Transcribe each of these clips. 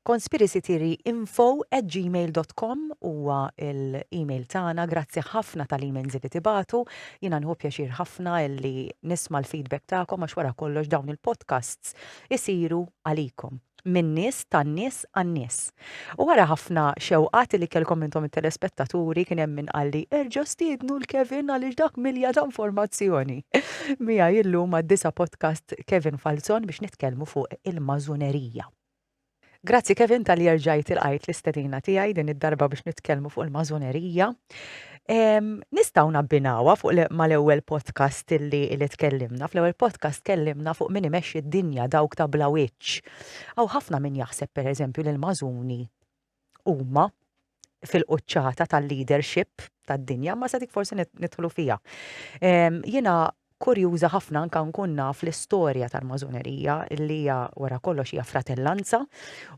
conspiracytheory.info@gmail.com huwa l-email tagħna. Grazzi ħafna tal-emails li tibatu. Jiena nħu pjaċir ħafna li nisma' l-feedback tagħkom għax wara kollox dawn il-podcasts isiru għalikom min-nies tan-nies għan-nies. U wara ħafna xewqat li kellkom intom it-telespettaturi kien hemm min qalli erġa' stiednu l-Kevin għaliex dak milja ta' informazzjoni. Mija illum għad-disa' podcast Kevin Falzon biex nitkellmu fuq il-mażunerija. Grazzi Kevin tal-li erġajt il-qajt l-istedina tiegħi din id-darba biex nitkellmu fuq il-mażonerija. Nistaw nabbinawa fuq mal-ewwel podcast li li tkellimna. Fl-ewwel podcast tkellimna fuq min imexxi d-dinja dawk ta' bla wiċċ. Aw ħafna min jaħseb pereżempju li l-mażuni huma fil-quċċata tal-leadership tad-dinja, ma se dik forsi nidħlu fija. Jiena kurjuża ħafna anka nkun naf l-istorja tal-mażunerija li hija wara kollox hija fratellanza,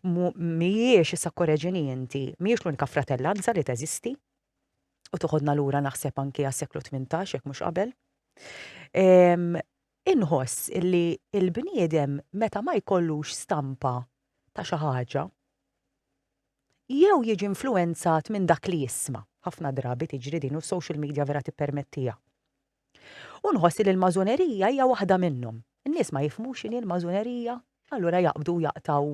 mhijiex issa korreġini inti, mhijiex l-unika fratellanza li teżisti u toħodna lura naħseb anki għas-seklu 18 jekk mhux qabel. Inħoss li l-bniedem meta ma jkollux stampa ta' xi ħaġa, jew jiġi influwenzat minn dak li jisma', ħafna drabi tiġri din u s-social media vera tippermettiha. U nħoss li l-Masonerija hija waħda minnhom. In-nies ma jifhmux x'inhi l-Masonerija, allura jaqbdu u jaqtgħu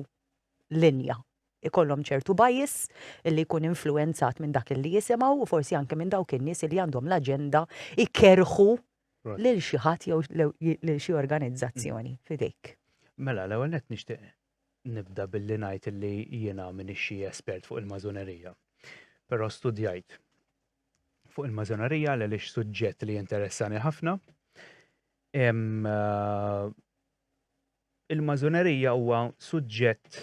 linja. Ikollhom ċertu bias li jkun influwenzat minn dak li jisimgħu u forsi anke minn dawk in-nies li għandhom l-aġenda jkerrħu lil xi ħadd jew lil xi organizzazzjoni f'idejk. Mela, l-ewwel nett nixtieq nibda billi ngħid li jiena minn xi espert fuq il-mażonerija. Però studjajt fuq il-mażonerija l għaliex suġġett li interessani ħafna. Eh, il-mażonerija huwa suġġett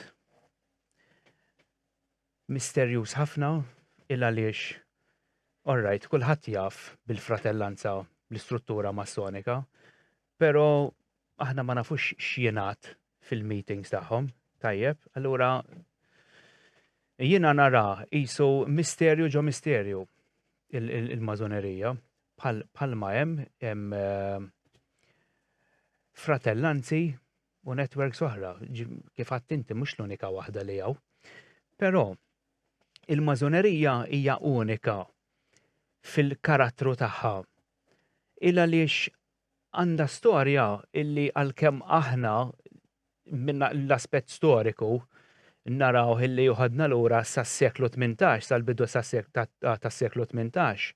Misterjuż ħafna il-għaliex, alright, kulħadd jaf bil-fratellanza bl-istruttura Massonika, però aħna ma nafux x'jingħad fil-meetings tagħhom, tajjeb, allura jiena nara qisu misterju ġo misterju il-Masonerija, bħalma hemm fratellanzi u networks oħra, kif għadt inti mhux l-unika waħda li hawn. Però il-mażonerija hija unika fil-karattru tagħha. Il għaliex għandha storja illi għalkemm aħna minna l-aspett storiku naraw illi juħadna lura sas-seklu 18, sal-bidu tas-seklu 18,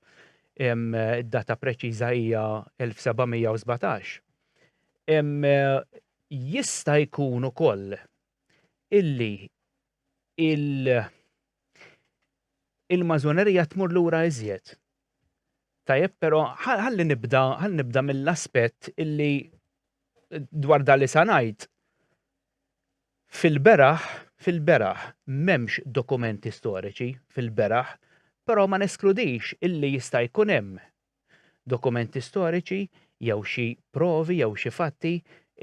id-data preċiża hija 1717. Jista' jkun ukoll illi il-mażonerija tmur lura iżjed. Tajjeb, però ħalli nibda, ħalli nibda mill-aspett illi dwar dan li sa ngħid. Fil-beraħ, fil-beraħ m'hemmx dokumenti storiċi fil-beraħ, però ma neskludix illi jista' jkun hemm dokumenti storiċi jew xi provi jew xi fatti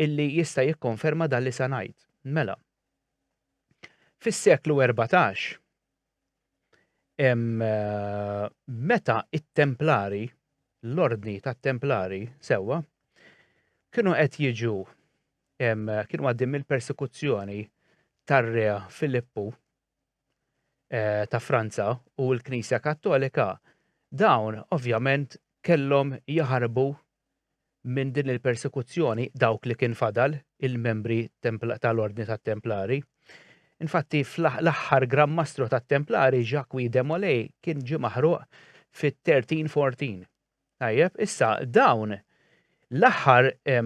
illi jista' jikkonferma dan li sa ngħid. Mela, fis-seklu erbatax, meta t-Templari, l-Ordni tat-Templari, sewwa, kienu qed jiġu kienu għaddejjin mill-persekuzzjoni tar-Re Filippu, eh, ta' Franza u l-Knisja Kattolika, dawn ovvjament kellhom jaħarbu minn din il-persekuzzjoni dawk li kien fadal il-membri tal-Ordni tat-Templari. Infatti, l-aħħar Gran Mastru tat-Templari, Jacques de Molay, kien ġi maħruq fit-1314. Tajjeb, issa dawn l-aħħar eh,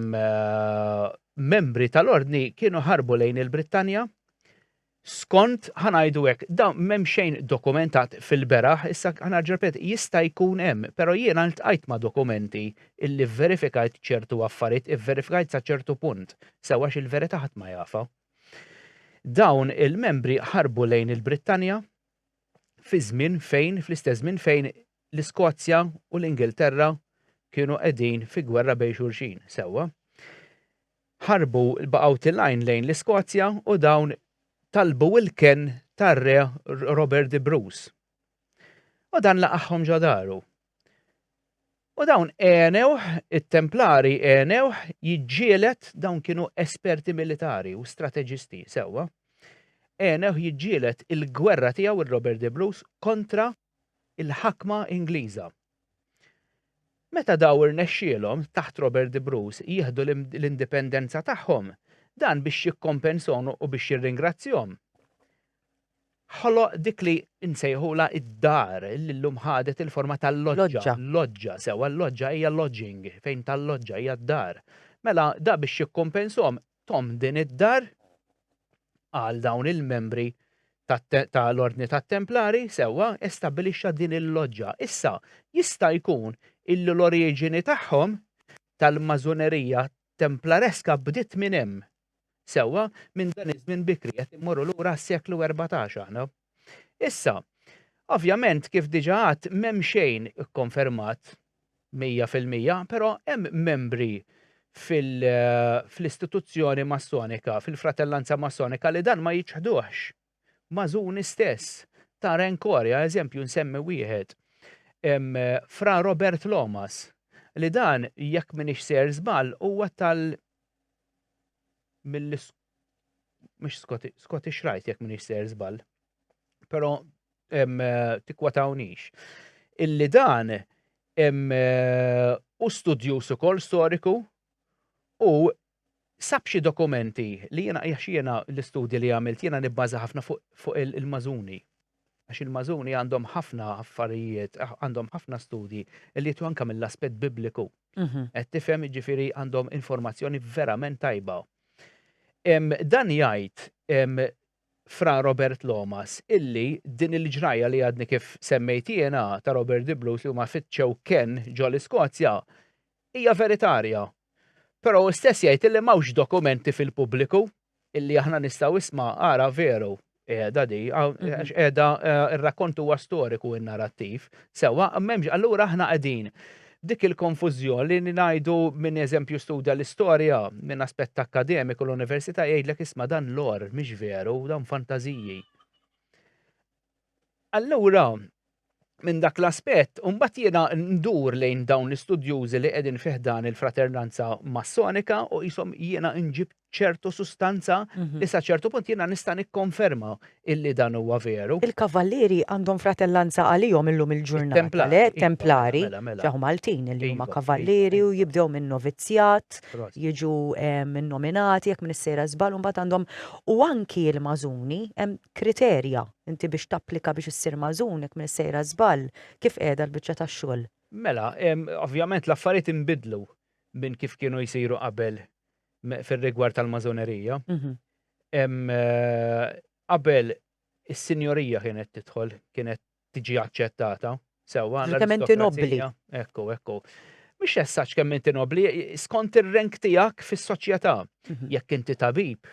membri tal-Ordni kienu ħarbu lejn il-Brittanja, Skont, ħa ngħidu hekk, dawn m'hemm xejn dokumentat fil-beraħ, issa ħa nerġa' nirrepeti, jista' jkun hemm, però jiena ltqajt ma' dokumenti illi vverifikajt ċertu affarijiet, ivverifikajt sa ċertu punt, sew għax il-verità ħadd ma jafha. Dawn il-membri ħarbu lejn il-Brittanja fi żmien fejn, fl-istess żmien fejn l-Iskozja u l-Ingilterra kienu qegħdin fi gwerra bejn xulxin, sewwa? Ħarbu l-baqgħu tilgħin lejn l-Iskozja u dawn talbu l-kenn tar-Re Robert de Bruce. U dan laqagħhom ġo daru. U dawn għenewh, it-Templari għenewh jiġġieled, dawn kienu esperti militari u strateġisti sewwa, għenewh jiġġieled il-gwerra tiegħu il-Robert de Bruce kontra il-ħakma Ingliża. Meta daw irnexxielhom, taħt Robert de Bruce, jieħdu l-indipendenza tagħhom, dan biex jikkompensahom u biex jirringrazzjahom, ħoloq dik li nsejħulha id-dar li llum ħadet il-forma tal-loġġa. Loġġa, sewwa l-loġġa hija lodging, fejn tal-loġġa hija d-dar. Mela da biex jikkompensahom Tom din id-dar għal dawn il-membri tal-Ordni tat-Templari, sewwa, estabbilixxa din il-loġġa. Issa, jista' jkun illi l-oriġini tagħhom tal-Mażunerija Templareska bdiet minn hemm. Sewwa, minn dan iż-żmien bikri, qed immorru lura għas-seklu erbatax aħna. Issa, ovvjament kif diġà għadt m'hemm xejn ikkonfermat mija fil-mija, però hemm membri fl-istituzzjoni Massonika, fil-fratellanza Massonika li dan ma jiċħduhx. Mażuni stess, ta' Renkoria, eżempju nsemmi wieħed, Fra Robert Lomas, li dan jekk m'iniex sejjer żball huwa tal mill mhux Scottish Rite jekk m'iniex ser żball. Però eh, tikkwatawniex. Illi dan eh, u studjus ukoll storiku u sab xi dokumenti li jiena jax jiena l-istudji li għamilt jiena nibbaża ħafna fuq il-mażuni. Għax il-Mażuni għandhom ħafna affarijiet, għandhom ħafna studji li jieħdu anke mill-aspett Bibliku. Qed tifhem, jiġifieri għandhom informazzjoni verament tajba. Dan jgħid Fra Robert Lomas illi din il-ġrajja li għadni kif semmejt jiena ta' Robert Dibluth li huma fittxew kenn ġol-Iskozja Hija veritarja. Però hu stess jgħid illi m'hawnx dokumenti fil-pubbliku illi aħna nistgħu isma' ara veru qiegħda di, għax qiegħda r-rakkont huwa storiku in-narattiv. Sewwa, m'hemmx allura aħna qegħdin dik il-konfużjon li ngħidu min eżempju studja l-istorja minn aspett akkademiku l-università jgħidlek isma' dan lore mhix veru, dawn fantażiji. Allura, minn dak l-aspett, imbagħad jiena ndur lejn dawn l-istudjużi li qegħdin fi ħdan il-fraternanza massonika u qishom jiena nġib ċertu sustanza mhm. li sa ċertu punt jiena nista' nikkonferma illi dan huwa veru. Il-kavallieri għandhom fratellanza għalihom illum il-ġurnata le iva, templari mela, mela. ġew Maltin li huma iva, kavallieri iva, u jibdew minn novizzjat, jiġu eh, minn nominati jekk minn is-sejra żbal u mbagħad għandhom u anki l-mażuni hemm kriterja inti biex tapplika biex issir magħżun jekk m'iniex sejra żball, kif qiegħda l-biċċa tax-xogħol? Mela, ovvjament l-affarijiet inbidlu minn kif kienu jsiru qabel fir-rigward tal-magħżunerija. Qabel is-sinjorija kienet tidħol, kienet tiġi aċċettata, sewwa. Kemm inti nobbli. Ekku, ekku. Mhux essaċ kemm inti nobbli, skont ir-rank tiegħek fis-soċjetà. Mhm. Jekk inti tabib,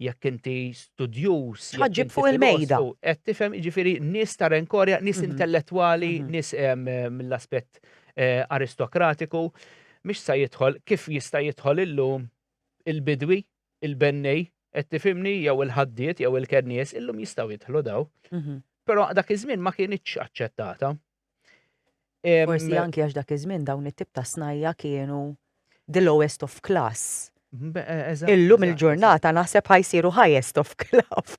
jekk inti studjuż. Ħaġġib fuq il-mejda. Qed tifhem jiġifieri nies ta' renkorja, nies mhm. intellettwali, mhm. nies mill-aspett eh, aristokratiku, mhix sa jidħol kif jista' jidħol illum il-bidwi, il-bennej, qed tifhimni jew il-ħaddiet jew il-kennies illum jistgħu jidħlu daw. Mhm. Però dak iż-żmien ma kienitx aċċettata. Forsi anki għax dak iż-żmien dawn it-tip ta' snajja kienu the lowest of class. Illum il-ġurnata naħseb ħajsiru highest of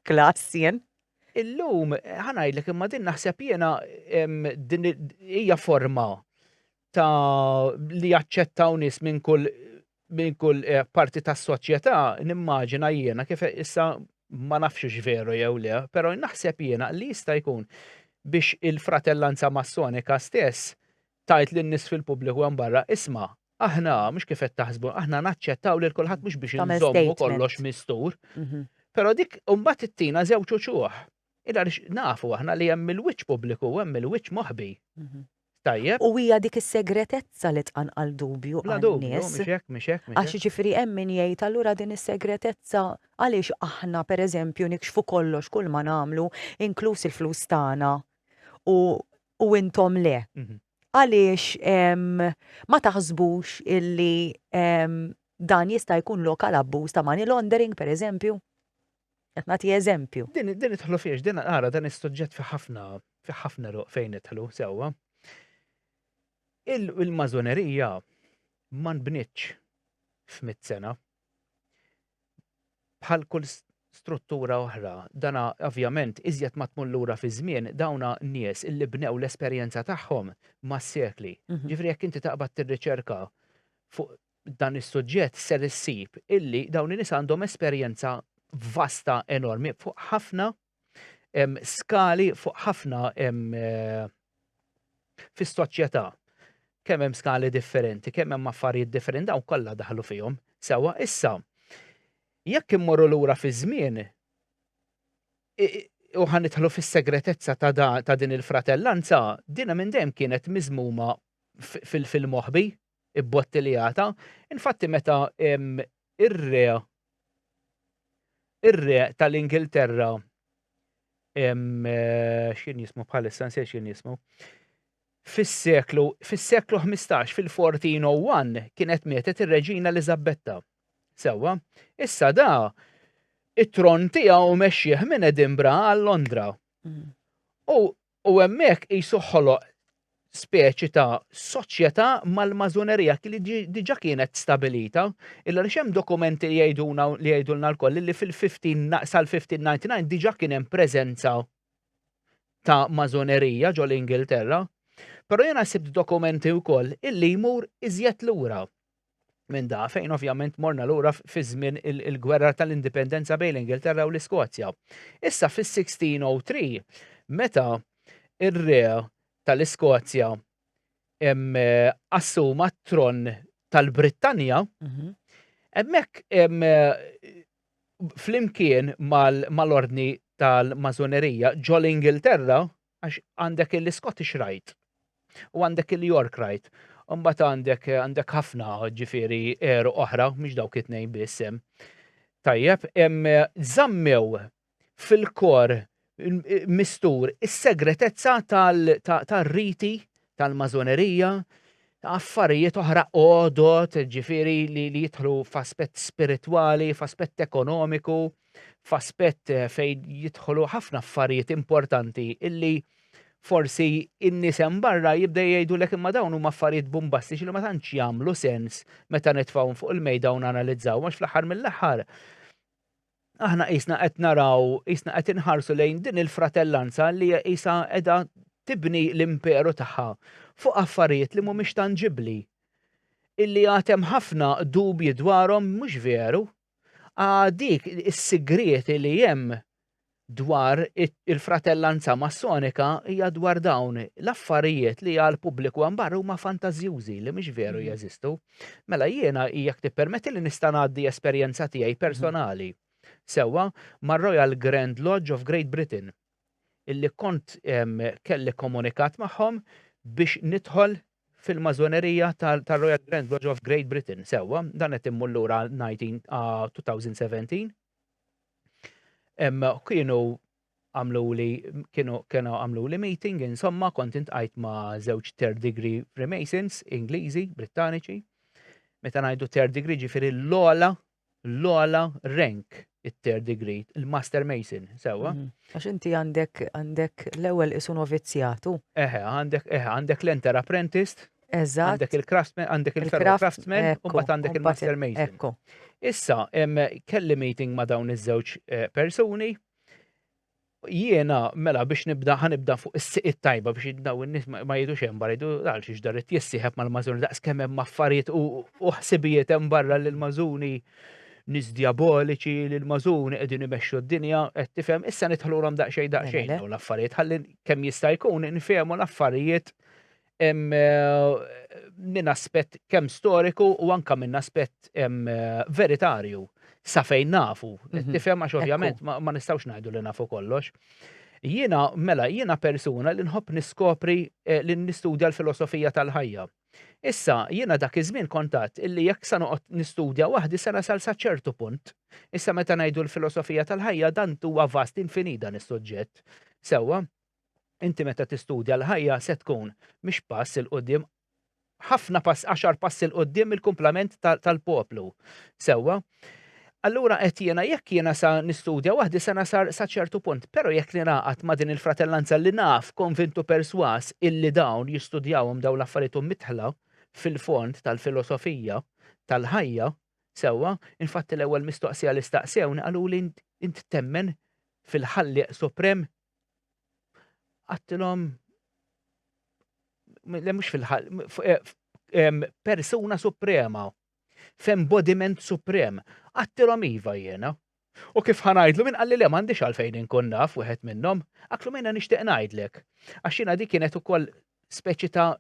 class jien. Illum, ħanajdlek imma din naħseb jiena hija forma ta' li jaċċettaw nies minn kull minn kull parti tas-soċjetà, nimmaġina jiena kif issa ma nafx hux veru jew le, però naħseb jiena li jista' jkun biex il-fratellanza massonika stess tgħid lin-nies fil-pubbliku hemm barra, isma', aħna, mhux kif qed taħsbu, aħna naċċettaw lil kulħadd mhux biex inżommu kollox mistur. Però dik imbagħad ittina żewġ uċuħ. Għaliex nafu aħna li hemm il-wiċċ pubbliku u hemm il-wiċċ moħbi. Tajjeb. U hija dik is-segretezza li tqanqal dubju għal nies. Bla dubju, mhix hekk, mhix hekk, mhix hekk. Għax jiġifieri hemm min jgħid allura din is-segretezza għaliex aħna pereżempju nikxfu kollox kull ma nagħmlu inkluż il-flus tagħna u u intom le. Għaliex ma taħsbux illi dan jista' jkun lok għal abbuż ta' money laundering pereżempju? Qed nagħti eżempju. Din din idħlu fiex, din ara dan is-suġġett fi ħafna fi ħafna roq fejn idħlu sewwa. Il-mażonerija ma nbnitx f'mit sena. Bħal kull struttura oħra, dana ovvjament iżjed ma tmur lura fi żmien dawna nies illi bnew l-esperjenza tagħhom mas-sekli. Ġifri jekk inti taqbad tirriċerka fuq dan is-suġġett ser issib illi dawn in-nies għandhom esperjenza vasta enormi fuq ħafna skali fuq ħafna fis-soċjetà kemm hemm skali differenti, kemm hemm affarijiet differenti dawn kollha daħlu fihom. Sewa issa jekk immorru lura fi żmien u ħanitħlu fis-segretezza ta' ta' din il-fratellanza, dina minn dejjem kienet miżmuma fil-moħbi, ibbottiljata. Infatti meta ir-re ir-re tal-Ingilterra x'kien jismu bħalissa nsejt x'kien jismu. Fis-seklu fis-seklu 15 fil-1401 kienet mietet ir-Reġina Eliżabetta. Sewwa, issa da it-tron tiegħu mexxih minn Edinburgh għal Londra. Mm. U U hemmhekk qisu ħoloq speċi ta' soċjetà mal-mażunerija li diġà kienet stabilita, illa li hemm dokumenti li jgħiduna li jgħidulna lkoll li fil-15 sal-1599 diġà kien hemm preżenza ta' mażunerija ġol Ingilterra. Però jiena sibt dokumenti wkoll illi jmur iżjed lura. minn da fejn ovvjament morna lura fi żmien il-gwerra tal-indipendenza bejn l-Ingilterra u l-Iskozja. Issa fis-1603 meta ir-re tal-Iskozja eh, assuma t-tron tal-Brittanja, mhm. hemmhekk eh, flimkien mal-ordni tal-mażonerija ġol Ingilterra, Għax għandek il-Scottish Rite u għandek il-York Rite. U mbagħad għandek għandek ħafna ġifieri għeruq oħra, mhux dawk it-tnejn biss hemm. Tajjeb, hemm żammew fil-kor mistur is-segretezza tal-riti tal-Masonerija, affarijiet oħra għodod, ġifieri li jidħlu f'aspett spiritwali, f'aspett ekonomiku, f'aspett eh, fejn jidħlu ħafna affarijiet importanti illi forsi in-nisem barra jibda jgħidu lek imma dawn huma affarijiet bombastiċi li ma tantx jagħmlu sens meta nitfgħu fuq il-mejda u nanalizzaw għax fl-aħħar mill-aħħar aħna qisna qed naraw, qisna qed inħarsu lejn din il-fratellanza li hija qisha qiegħda tibni l-imperu tagħha fuq affarijiet li mhumiex tanġibbli. Illi għad hemm ħafna dubji dwarhom mhux veru. Għadik is-sigriet li hemm dwar il-fratellanza massonika hija dwar dawn l-affarijiet li għal pubbliku għambar huma fantażjużi li mhux veru mhm. jeżistu. Mm -hmm. Mela jiena jekk tippermettili nista' ngħaddi esperjenza tiegħi personali sewwa mar-Royal Grand Lodge of Great Britain illi kont kelli komunikat magħhom biex nidħol fil-Masonerija tar-Royal Grand Lodge of Great Britain sewwa, dan qed immur lura 2017. Kienu għamluli kienu kienu għamluli meeting insomma kont intqajt ma' żewġ third degree Freemasons Ingliżi, Brittaniċi. Meta ngħidu third degree ġifieri l-ola l-ola rank it-third degree, il-master mason, sewa. Mhm. Għax inti għandek għandek l-ewwel isu novizzjatu. Eħe, għandek eħe, għandek l-enter apprentice, Eżatt. għandek il-craftsman, għandek il-fellow Il-craft- craftsman, u ekku, mbagħad għandek u mbagħad il-master il- mason. ekku. Issa, em, kelli meeting ma' dawn iż-żewġ eh, persuni, Jiena, mela biex nibda, ħanibda fuq is-siq tajba biex daw in-nies ma jidux hemm barra jdu għal xiex dar it jissieħeb mal-mażuni daqs kemm hemm affarijiet u ħsibijiet hemm barra li l-mażuni nis diaboliċi li l-mażuni qegħdin imexxu d-dinja qed tifhem issa nidħlulhom daqsxejn daqsxejn dawn l-affarijiet ħalli kemm jista' jkun nfehmu l-affarijiet minn aspett kemm storiku u anka minn aspett veritarju sa fejn nafu. Mhm. Tifhem għax ovvjament ma nistgħux ngħidu li nafu kollox. Jiena mela jiena persuna li nħobb niskopri eh, li nistudja l-filosofija tal-ħajja. Issa jiena dak iż-żmien kontat illi jekk sa noqgħod nistudja waħdi se nasal sa ċertu punt. Issa meta ngħidu l-filosofija tal-ħajja dan huwa vast infinita nis-suġġett. Sewwa, Inti meta tistudja l-ħajja se tkun mhix pass 'il quddiem ħafna pass għaxar pass 'il quddiem il-kumplament tal-poplu. Sewwa? Allura qed jiena jekk jiena sa nistudja waħdi se nasar sa ċertu punt, però jekk ningħaqad ma' din il-fratellanza li naf konvintu persważ illi dawn jistudjawhom dawn l-affarijiet u mitħla fil-fond tal-filosofija tal-ħajja, sewwa, infatti l-ewwel mistoqsija li staqsewni qaluli int temmen fil-Ħallieq Suprem? għattilhom le mhux fil-ħal, persuna suprema, f'embodiment suprem, għattilhom iva jiena. U kif ħanajdlu minn qalli le m'għandix għalfejn inkun naf wieħed minnhom, għaklu minna nixtieq ngħidlek. Għax jiena dik kienet ukoll speċi ta'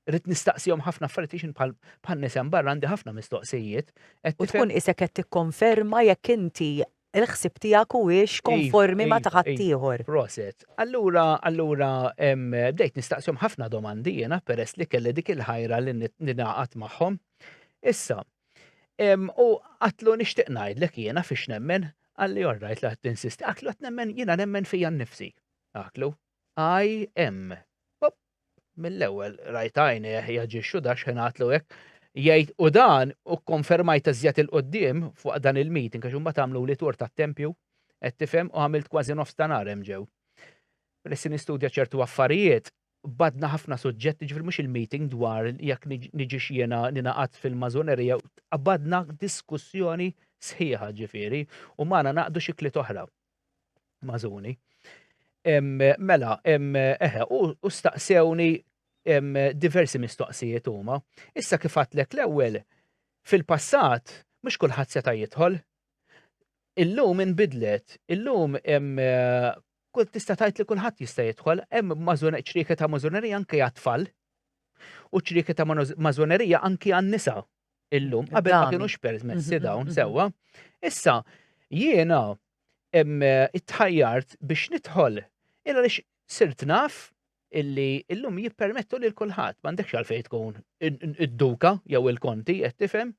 Rrid nistaqsihom ħafna affarijiet għax bħal bħal nies hemm barra għandi ħafna mistoqsijiet. qed U tifhem- tkun isek qed tikkonferma jekk inti l-ħsieb tiegħek huwiex Iva, konformi ma' ta' iva, iva. ħaddieħor. Proset. Allura, allura, em, bdejt nistaqsihom ħafna domandi jiena peress li kelli dik il-ħajra li nit- ningħaqad magħhom. Issa, em, u qatlu nixtieq ngħidlek jiena fiex nemmen, qalli all right la tinsisti, qatlu qed nemmen jiena nemmen fija nnifsi. Qatlu, IM. Mill-ewwel rajt għajnejh jaġixxu da xħenatlu hekk. Jgħid u dan u konfermajt iżjed il-qoddim fuq dan il-meeting għax imbagħad għamlu li tur tat-tempju qed tifhem u għamilt kważi nofs ta' nhar hemm ġew. Peress nistudja ċertu affarijiet, badna ħafna suġġetti ġifri mhux il-meeting dwar jekk niġix jiena ninaqat fil-mażonerija, badna diskussjoni sħiħa ġifieri u magħna naqdu xi kliet oħra. Mażuni. Mela, eħe, u staqsewni diversi mistoqsijiet huma. Issa kif għatlek l-ewwel, fil-passat mhux kulħadd seta' jidħol. Illum inbidlet, illum kull tista' tgħid li kulħadd jista' jidħol, hemm ċrieka ta' mażunerija anke għat-tfal u ċrieka ta' mażunerija anke għan-nisa illum, qabel ma kienux permessi mhm, dawn mhm, mhm. sewwa. Issa, jiena it-tħajjart biex nidħol, illa lix sirt naf illi illum jippermettu li l-kulħat, mandekx għalfej tkun id-duka jew il-konti, qed tifhem.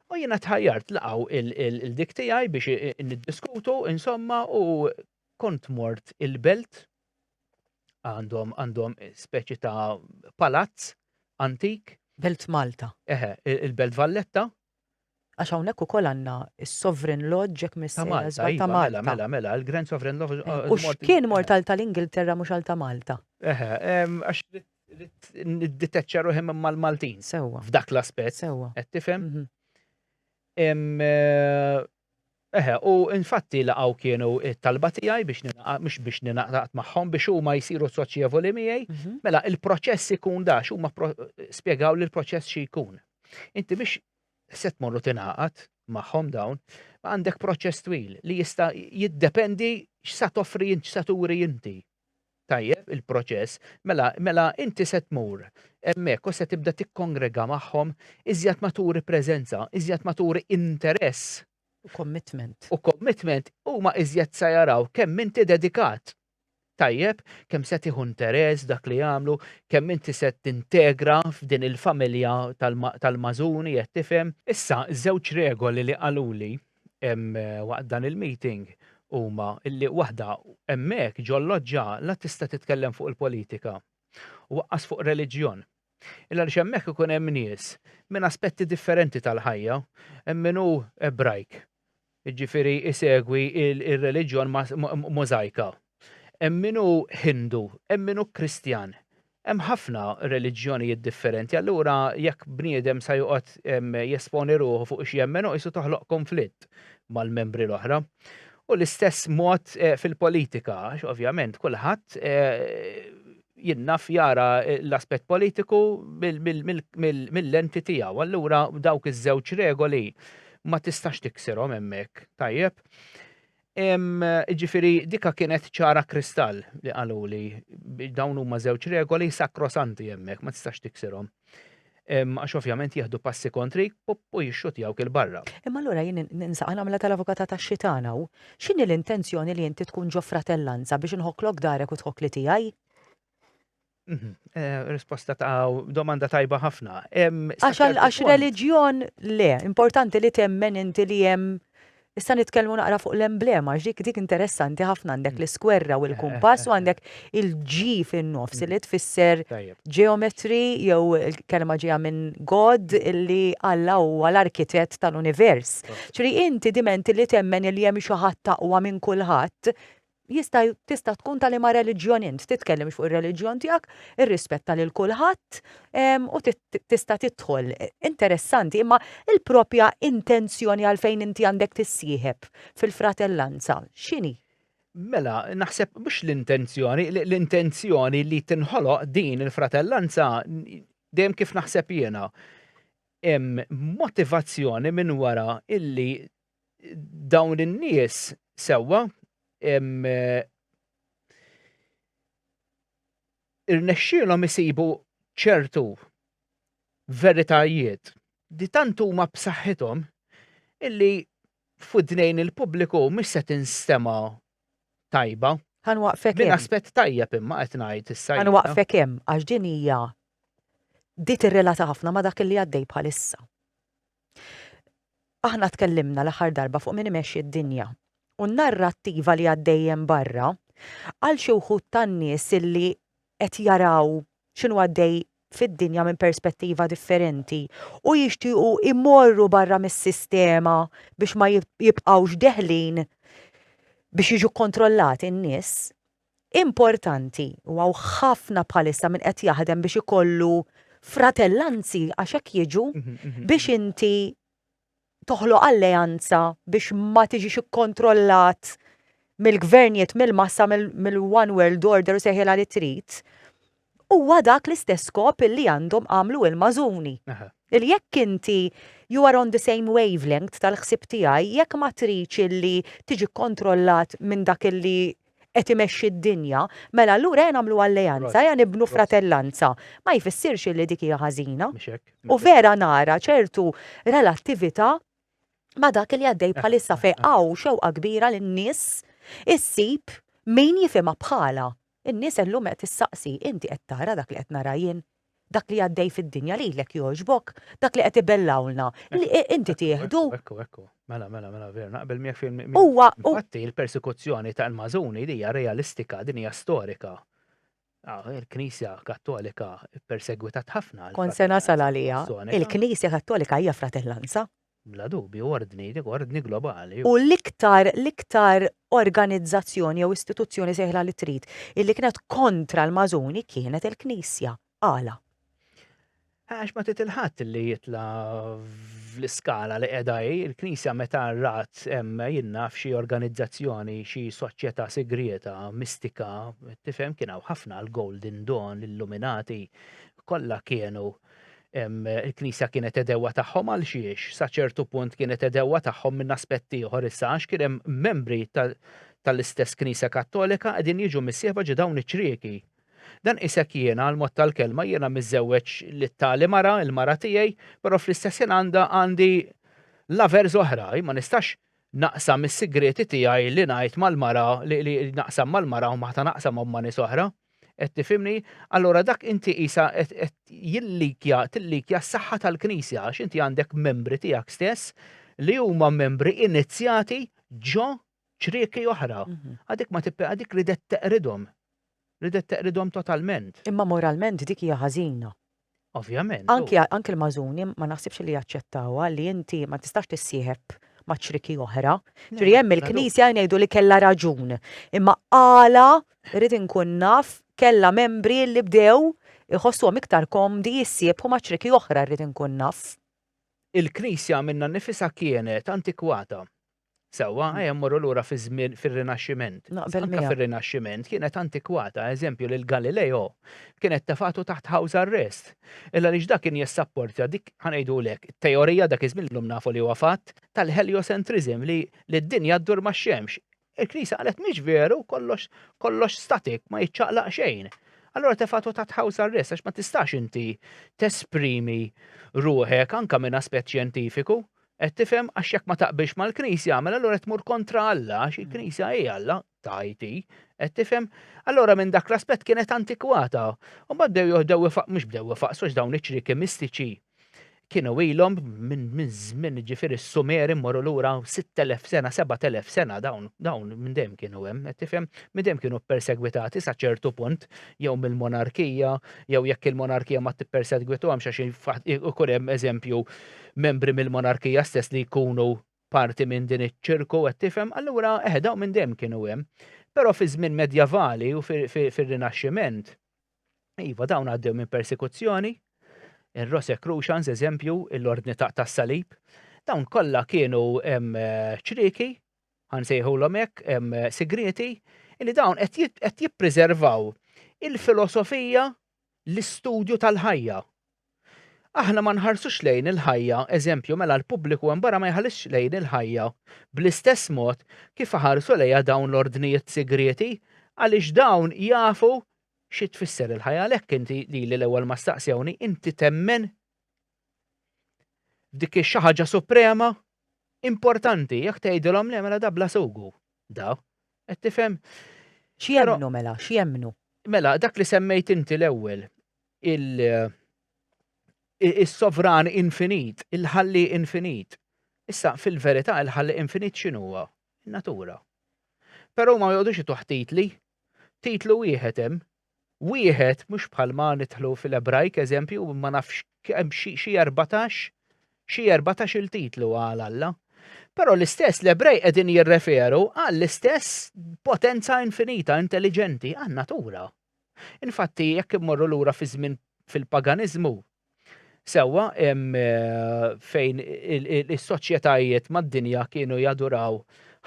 U jiena tħajjart laqaw il-dik tiegħi biex niddiskutu, insomma, u kont mort il-belt għandhom għandhom speċi ta' palazz antik. Belt Malta. Eħe, il-Belt Valletta. Għax hawnhekk ukoll għandna s-Sovereign Lodge jekk miss ta' Malta. Iva, mela, mela, mela, il-Grand Sovereign Lodge. Eh, u x'kien mortal tal-Ingilterra mhux għal ta' Malta? Eħe, għax nidditeċċa ruħi minn mal-Maltin. Sewa. F'dak l-aspett. Sewa. Qed tifhem? Mhm. Eh, Eħe, u infatti laqgħu kienu t-talba tiegħi biex ningħaqad, mhux biex ningħaqad magħhom, biex huma jsiru soċjevoli miegħi. Mela, il-proċess ikun da, x'huma spjegaw li l-proċess xi jkun. Inti biex se tmorru tingħaqad magħhom dawn, għandek proċess twil li jista' jiddependi x'sa toffri int, x'sa turi inti. Tajjeb, il-proċess. Mela, mela inti se tmur hemmhekk u se tibda tikkongrega magħhom, iżjed ma turi preżenza, iżjed ma turi interess. U commitment. U commitment, huma iżjed se jaraw kemm inti dedikat. Tajjeb, kemm se tieħu interess f'dak li jagħmlu, kemm inti se tintegra f'din il-familja tal-magħżuni, qed tifhem? Issa, żewġ regoli li qaluli, waqt dan il-meeting huma li waħda hemmhekk ġol-loġġa la tista' titkellem fuq il-politika u waqqas fuq reliġjon. Illa li hemmhekk ikun hemm nies minn aspetti differenti tal-ħajja, hemm min hu Ebrajk, jiġifieri isegwi il-reliġjon możajka. Hemm min hu Hindu, hemm min hu Kristjan, Hemm ħafna reliġjonijiet differenti, allura jekk bniedem sa joqgħod jesponi ruħu fuq x'jemmen hu qisu toħloq kunflitt mal-membri l-oħra. U l-istess mod fil-politika, għax ovvjament kulħadd jinnaf jara l-aspett politiku mill-lenti tiegħu. Allura dawk iż-żewġ regoli ma tistax tikserhom hemmhekk, tajjeb? Jiġifieri dika kienet ċara kristall li qaluli dawn huma żewġ regoli sakrosanti hemmhekk ma tistax tiksirhom. Għax ovvjament jieħdu passi kontri u jixxutjawk il-barra. Imma allura jien ninsaq nagħmilha tal-avukata tax-xitan hawn. X'inhi l-intenzjoni li inti tkun ġo fratellanza biex inħokklok darek u tħokkli tiegħi? Mhm. Eh, risposta ta' domanda tajba ħafna. Għax reliġjon le, importanti li temmen inti li jem Issa nitkellmu naqra fuq l-emblema, ġdik dik interessanti ħafna għandek mm. l-iskwerra u l-kumpass u għandek il-ġi fin-nofs mm. li tfisser ġeometri jew il-kelma ġeja minn God illi Alla huwa l-arkitett tal-univers. Ċri inti dimenti li temmen il-jem xi ħadd taqwa minn kulħadd Jista' tista' tkun ta' liema reliġjon int, titkellimx fuq ir-reliġjon tiegħek, irrispetta lil kulħadd u tista' tidħol. Interessanti, imma l-proprja intenzjoni għalfejn inti għandek tissieħeb fil-fratellanza x'inhi? Mela, naħseb mhux l-intenzjoni, l-intenzjoni li tinħoloq din il-fratellanza dejjem kif naħseb jiena hemm motivazzjoni minn wara illi dawn in-nies sewwa irnexxielhom isibu ċertu veritajiet li tant huma b'saħħithom illi f'widnejn il-pubbliku mhix se tinstema' tajba. Ħa nwaqfek hemm. Din aspett tajjeb imma qed ngħid issa. Ħa nwaqfek hemm għax din hija di tirrelata ħafna ma' dak li għaddej bħalissa. Aħna tkellimna l-aħħar darba fuq min imexxi d-dinja. U n-narrattiva li għaddejjem barra għal xi wħud tan-nies illi qed jaraw x'inhu għaddej fid-dinja minn perspettiva differenti u jixtiequ imorru barra mis-sistema biex ma jibqgħux deħlin biex jiġu kontrollati n-nies, importanti u hawn ħafna bħalissa min qed jaħdem biex ikollu fratellanzi għax hekk jiġu biex inti toħloq alleanza biex ma tiġix ikkontrollat mill-gvernijiet mill-massa mill-one world order u seħilha li trid. Huwa dak l-istess skop illi għandhom għamlu il-Mażuni. Illi jekk inti you are on the same wavelength tal-ħsieb tiegħi, jekk ma tridx illi tiġi kkontrollat minn dak illi qed imexxi d-dinja, mela allura ejja nagħmlu alleanza, ejja nibnu fratellanza. Ma jfissirx illi dik hija ħażina. U vera nara ċertu relattività ma' dak illi għaddej bħalissa fejn hawn xewqa kbira lin-nies issib min jifhimha bħalha. In-nies illum qed issaqsi, Inti qed tara dak li qed nara jien? Dak li għaddej fid-dinja lilek jogħġbok? Dak li qed ibellgħulna, li inti tieħdu? Ekku, ekku. Mela, mela, mela, veru, naqbel miegħek fil. Huwa. Infatti, il-persekuzzjoni ta' l-Mażuni li hija realistika, din hija storika. Il-Knisja Kattolika ppersegwitat ħafna. Kont se nasal għaliha. Il-Knisja Kattolika hija fratellanza. Bla dubju, ordni, dik ordni globali. U l-iktar, l-iktar organizzazzjoni jew istituzzjoni, sejħilha li trid, illi kienet kontra l-Mażuni kienet il-Knisja. Għala? Għax ma titil ħadd li jitla fl-iskala li qiegħda hi, il-Knisja meta rat hemm jinna f'xi organizzazzjoni, xi soċjetà sigrieta, mistika, tifhem kien hawn ħafna l-Golden Dawn, l-Illuminati, kollha kienu il-Knisja kienet edewwa tagħhom għal xiex, sa ċertu punt kienet edewwa tagħhom minn aspett ieħor issa għax kien hemm membri tal-istess Knisja Kattolika qegħdin jiġu missieħba ġo dawn iċ-ċrieki. Dan qisek jiena għal mod tal-kelma jiena miżżewweġ li tali mara, il-mara tiegħi, però fl-istess ħin għandha għandi l-avers oħra, ma nistax naqsam is-sigrieti tiegħi li ngħid mal-mara li li naqsam mal-mara u ma ħta naqsamhom ma' nies oħra. Qed tifhimni? Allura dak inti qisha qed qed jillikja tillikja s-saħħa tal-Knisja għax inti għandek membri tiegħek stess li huma membri inizzjati ġo ċrieki oħra. Għadik ma tipper għadik ridet teqridhom. Ridet teqridhom totalment. Imma moralment dik hija ħażina. Ovvjament, u. Anki, anki l-Mażuni ma naħsibx li jaċċettawha li inti ma tistax tissieħeb ma' ċriki oħra. Ġifieri hemm il-Knisja ngħidu li kellha raġun. Imma għala, irrid inkun naf, kellha membri li bdew iħossuhom iktar komdi jissiebħu ma' ċriki oħra, irrid inkun naf. Il-Knisja minnha nnifisha kienet antikwata. Sewwa, ejja mmorru lura fiż-żmien fir-Rinaxximent. Naqbel Anke miegħek. fir-Rinaxximent kienet antikwata, eżempju lil Galileo kienet tefatu taħt house arrest. Illa għaliex dak kien jissapportja dik ħanejdulek teorija dak iż-żmien illum nafu li huwa fatt tal-heliocentrism li li d-dinja ddur max-xemx. Il-Knisja qalet mhix veru kollox kollox static ma jiċċaqlaq xejn. Allura tefatu taħt house arrest għax ma tistax inti tesprimi ruħek anke minn aspett xjentifiku Qed tifhem? Għax jekk ma taqbilx mal-Knisja, mela allura qed tmur kontra Alla, għax il-Knisja hi Alla, tgħid hi. Qed tifhem? Allura minn dak l-aspett kienet antikwata. U mbagħad bdew joħdew ifaq, mhux bdew ifaqsu għax dawn iċ-ċrieki mistiċi kienu ilhom minn żmien ġifieri s-Sumeri mmorru lura 6000 sena, 7000 sena dawn dawn minn dejjem kienu hemm, qed tifhem? Minn dejjem kienu ppersegwitati sa ċertu punt jew mill-monarkija, jew jekk il-monarkija ma tippersegwituhomx għax ikun hemm eżempju membri mill-monarkija stess li jkunu parti minn din iċ-ċirku, qed tifhem, allura eħe dawn minn dejjem kienu hemm. Però fi żmien medjavali u fir-Rinaxximent, iva dawn għaddew minn persekuzzjoni, ir-Rose Crucians eżempju, l-ordni tas-salib, dawn kollha kienu ċrieki, ħansejħulhom hekk, sigrieti, li dawn qed jippreservaw il-filosofija l-istudju tal-ħajja. Aħna ma nħarsux lejn il-ħajja, eżempju, mela l-pubbliku hemm barra ma jħallix lejn il-ħajja bl-istess mod kif iħarsu lejha dawn l-ordnijiet sigrieti għaliex dawn jafu xi tfisser il-ħajja għalhekk inti lili l-ewwel ma staqsewni inti temmen Dik hi xi ħaġa suprema, importanti, jekk tgħidilhom le mela da bla sugu. Da, qed tifhem? X'jemmnu mela, x'jemmnu? Mela, dak li semmejt inti l-ewwel, il-sovran infinit, il-ħalli infinit. Issa, fil-verità, il-ħalli infinit x'inhuwa? Natura. Però ma jgħodux ituħtitli, Titlu wieħed hemm. Wieħed mhux bħal ma nidħlu fil-Ebrajk eżempju ma nafx hemm xi erbatax xi erbatax il-titlu għal Alla. Però l-istess l-Ebrej qegħdin jirreferu għall-istess potenza infinita, intelliġenti, għan-natura. Infatti, jekk immorru lura fi żmien fil-paganiżmu, Sewwa, hemm fejn is-soċjetajiet mad-dinja kienu jaduraw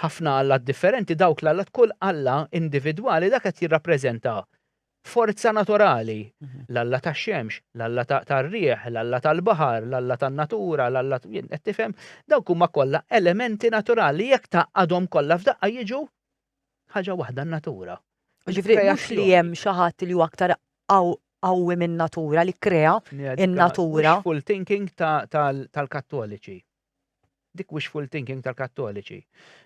ħafna allat differenti, dawk l-allat kull alla individwali dak qed jirrappreżenta forza naturali, l-alla tax-xemx, l-alla tar-riħ, l-alla tal-baħar, l-alla tan-natura, l-alla qed tifhem, dawk huma kollha elementi naturali jekk tgħaqqadhom kollha f'daqqa jiġu Ħaġa waħda n-natura. Ġifri, mhux li hemm xi ħadd li huwa aktar qawwi minn natura li krea in-natura. Full thinking tal-Kattoliċi. Dik wishful thinking tal-Kattoliċi.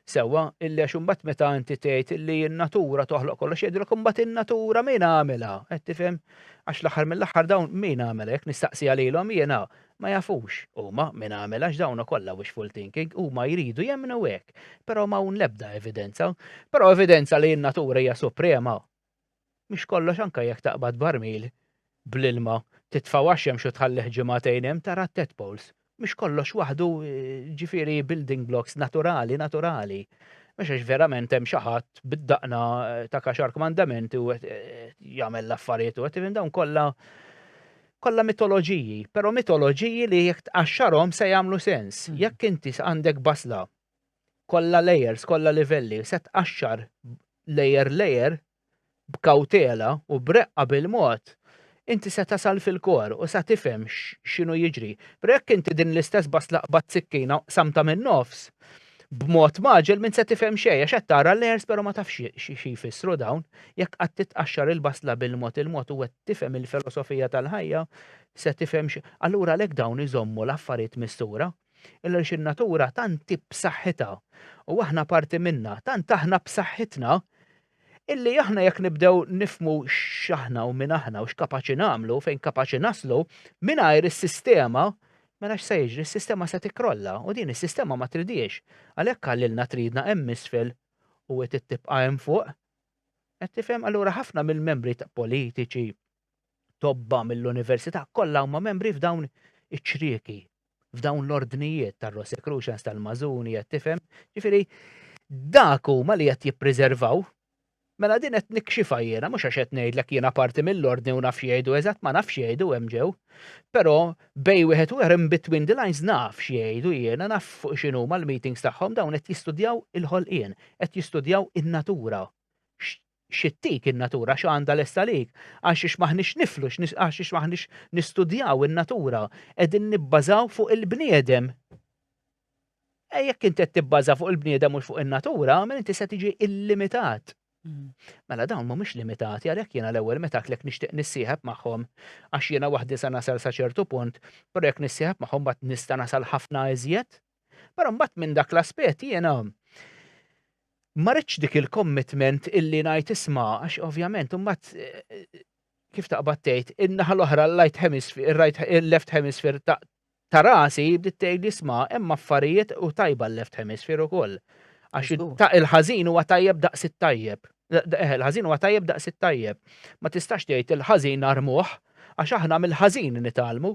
Sewwa, illi għax imbagħad meta inti tgħid li n-natura toħloq kollox jgħidilek imbagħad in-natura min għamilha, qed tifhem? Għax l-aħħar mill-aħħar dawn min għamilha jekk nistaqsi għalilhom jiena Ma jafux huma min għamel għax dawna kollha wishful thinking, huma jridu jemmnu hekk, però m'hawn l-ebda evidenza. Però evidenza li n-natura hija suprema. Mhix kollox anke jekk taqbad barmil bl-ilma, titfgħu għax-xemx u tħallih ġimagħtejn hemm tara t-tadpoles. Mhux kollox waħdu ġifieri building blocks naturali naturali. Mhux għax verament hemm xi ħadd bid-daqna ta' kaxar kmandamenti u qed jagħmel l-affarijiet u qed dawn kollha Kollha mitoloġiji, però mitoloġiji li jekk tqaxxarhom se jagħmlu sens. Jekk inti għandek basla kollha layers, kollha livelli, se tqaxxar layer layer b'kawtela u b'reqqa bil-mod, inti se tasal fil-core u sa tifhem x'inhu jiġri. Però jekk inti din l-istess basla qbadt sikkina u qsamtha min-nofs, b'mod maġel minn se tifhem xejn għax qed tara layers però ma tafx xi jfissru dawn. Jekk qatt titqaxxar il-basla bil-mod il-mod u qed tifhem il-filosofija tal-ħajja se tifhem xi. Allura għalhekk dawn iżommu l-affarijiet mistura. Għaliex in-natura tant hi b'saħħitha u aħna parti minnha, tant aħna b'saħħitna Illi aħna jekk nibdew nifhmu x'aħna u min aħna u x'kapaċi nagħmlu, fejn kapaċi naslu, mingħajr is-sistema, mela x'se jiġri? Is-sistema se tikkrolla u din is-sistema ma tridhiex. Għalhekk qalilna tridna hemm isfel u hi trid tibqa' hemm fuq. Qed tifhem? Allura ħafna mill-membri politiċi, tobba mill-università kollha huma membri f'dawn iċ-ċrieki, f'dawn l-ordnijiet tar-Rosicrucians, tal-Mażuni, qed tifhem. Ġifieri dak huma li qed jippriservaw Mela din qed nikxifa jiena, mhux għax qed ngħidlek jiena parti mill-ordni u nafx jgħidu eżatt ma nafx jgħidu hemm ġew. Però bej wieħed u in between the lines naf jgħidu jiena naf fuq x'inhu mal-meetings tagħhom dawn qed jistudjaw il-ħolqien, qed jistudjaw in-natura. X'ittik in-natura, x'għandha lesta għalik? Għaxiex m'aħniex niflu, għaxiex m'aħniex nistudjaw in-natura? Qegħdin nibbażaw fuq il-bniedem. E jekk inti qed tibbaża fuq il-bniedem mhux fuq in-natura, mela inti se tiġi illimitat. Mm. Mela dawn mhumiex limitati għalhekk jiena l-ewwel meta għaklek nixtieq nissieħeb magħhom għax jiena waħdi sa nasal sa ċertu punt, però jekk nissieħeb magħhom ma nista' nasal ħafna iżjed. Però mbagħad minn dak l-aspett jiena ma rridx dik il-commitment illi ngħid isma' għax ovvjament imbagħad eh, kif taqbad tgħid in-naħa l-oħra l-right hemisphere, il-left hemisphere ta' rasi bdiet tgħid isma' hemm affarijiet u tajba l-left hemisphere ukoll. Għax ta' il-ħażin huwa tajjeb daqs it-tajjeb. Eh, il-ħażin huwa tajjeb daqs it-tajjeb. Ma tistax tgħid il-ħażin armuh, għax aħna mill-ħażin nitalmu,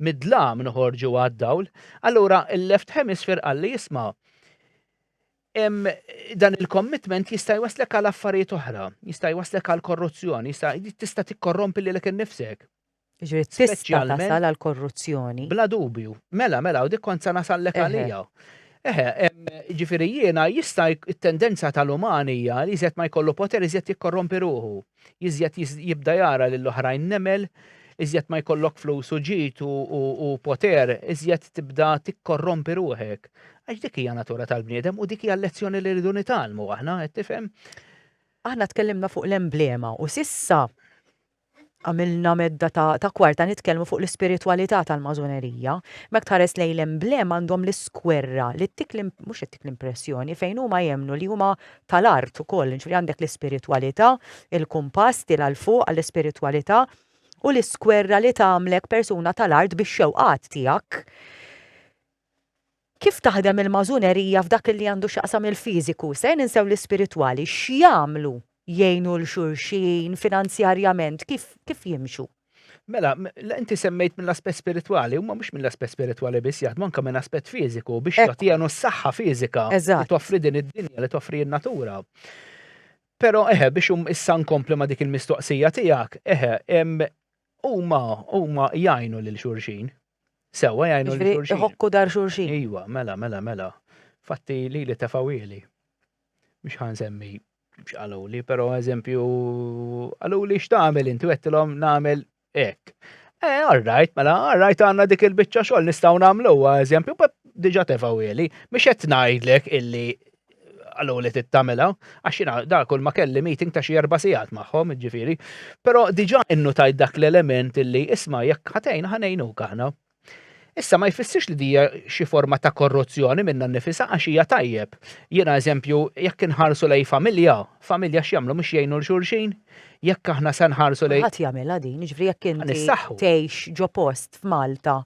mid-dlam noħorġu għad-dawl. Allura il-left hemisphere qal li jisma' dan il-commitment jista' jwaslek għal affarijiet oħra, jista' jwaslek għal korruzzjoni, jista' tista' tikkorrompi lilek innifsek. Jiġifieri tista' tasal għall-korruzzjoni. Bla dubju. Mela, mela, u dik kont se nasallek għaliha. Eħe, jiġifieri jiena jista' t-tendenza tal-uman hija li iżjed ma jkollu poter iżjed jikkorrompi ruħu. Iżjed jibda jara lil oħrajn nemel, iżjed ma jkollok flus u ġid u poter, iżjed tibda tikkorrompi ruħek. Għax dik hija natura tal-bniedem u dik hija l-lezzjoni li rridu nitgħallmu aħna, qed tifhem? Aħna tkellimna fuq l-emblema u s'issa Għamilna medda ta' ta' kwarta nitkellmu fuq l-ispiritwalità tal-Masonerija. Mekk tħares lejn l-emblema għandhom l-iskwerra li ttik l mhux qed ttik l-impressjoni fejn huma jemmnu li huma tal-art ukoll, jiġifieri għandek l-ispiritwalità, il-kumpass tiela' 'l fuq għall-ispiritwalità u l-iskwerra li tagħmlek persuna tal-art bix-xewqat tiegħek. Kif taħdem il-Mażunerija f'dak li għandu x'jaqsam il-fiżiku? Se ninsew l-ispiritwali? X'jagħmlu? Jgħinu 'l xulxin? Finanzjarjament kif kif jimxu? Mela, inti semmejt mill-aspett spiritwali, huma mhux mill-aspett spiritwali biss jaħdmu anke minn aspett fiżiku biex jagħtihanu s-saħħa fiżika li toffri din id-dinja li toffri n-natura. Però eħe biex issa nkompli ma' dik il-mistoqsija tiegħek, eħe, huma huma jgħinu lil xulxin. Sewa jgħinu li xurxin. Iħokku dar xurxin. Iwa, mela, mela, mela. Fatti li li tefawili. Mux ħan semmi xqaluli, pero eżempju, għaluli xtamil inti għettilom namil ek. Eh, all right, mela, all right, għanna dik il-bicċa xol nistaw namlu, eżempju, diġa tefawili, mux għet najdlek illi għallu li tittamela, għax jina da kull ma kelli meeting ta' xi erba sigħat magħhom, ġifiri. Però diġà innutajt dak l-element li isma' jekk ħatejn ħanejnu aħna. Issa ma jfissirx li dija xi forma ta' korruzzjoni minna nifisa għax hija tajjeb. Jiena eżempju, jekk inħarsu lej familja, familja x'jagħmlu mhux jgħinu l-xulxin, Jekk aħna se nħarsu lejn. Ħadd jagħmilha din, jiġifieri jekk inti tgħix ġo post f'Malta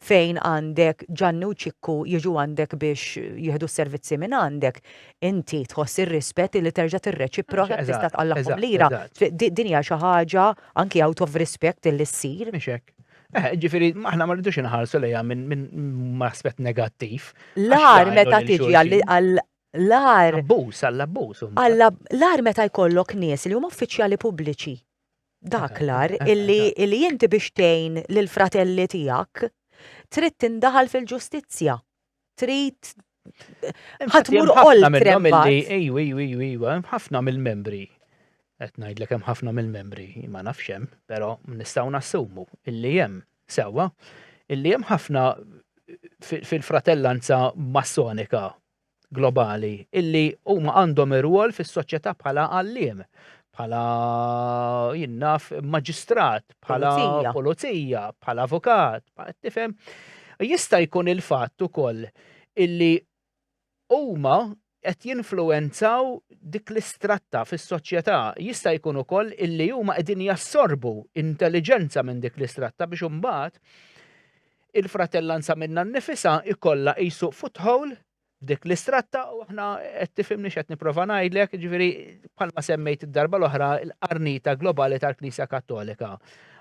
fejn għandek Ġanni u Ċikku jiġu għandek biex jieħdu s-servizzi minn għandek, inti tħoss ir-rispett li terġa' tirreċiproka tista' tqallagħhom lira. Din hija xi ħaġa anki out of respect li ssir. Mhix hekk. Eh, ġifiri, aħna ma rridux inħarsu lejha minn aspett negattiv. L-għar meta tiġi L-għar. Abbuż, għall-abbuż. L-għar meta jkollok nies li huma uffiċjali pubbliċi. Dak l-għar illi inti biex tgħin lill-fratelli tiegħek trid tindaħal fil-ġustizzja. Trid ħadd mur qoll trembat. Ejwa, ejwa, ejwa, ħafna mill-membri qed ngħidlek hemm ħafna mill-membri ma nafx hemm, però nistgħu nassumu illi hemm sewwa illi hemm ħafna fil-fratellanza massonika globali illi huma għandhom irwol fis-soċjetà bħala għalliem, bħala jinnaf maġistrat, bħala pulizija, bħala avukat, tifhem. Jista' jkun il-fatt ukoll illi huma qed jinfluwenzaw dik l-istratta fis-soċjetà jista' jkun ukoll illi huma qegħdin jassorbu intelliġenza minn dik l-istratta biex imbagħad il-fratellanza minnha nnifisha jkollha qisu foothold f'dik l-istratta u aħna qed tifhimni x'qed nipprova ngħidlek, jiġifieri bħalma semmejt id-darba l-oħra l-qarnita globali tal-Knisja Kattolika.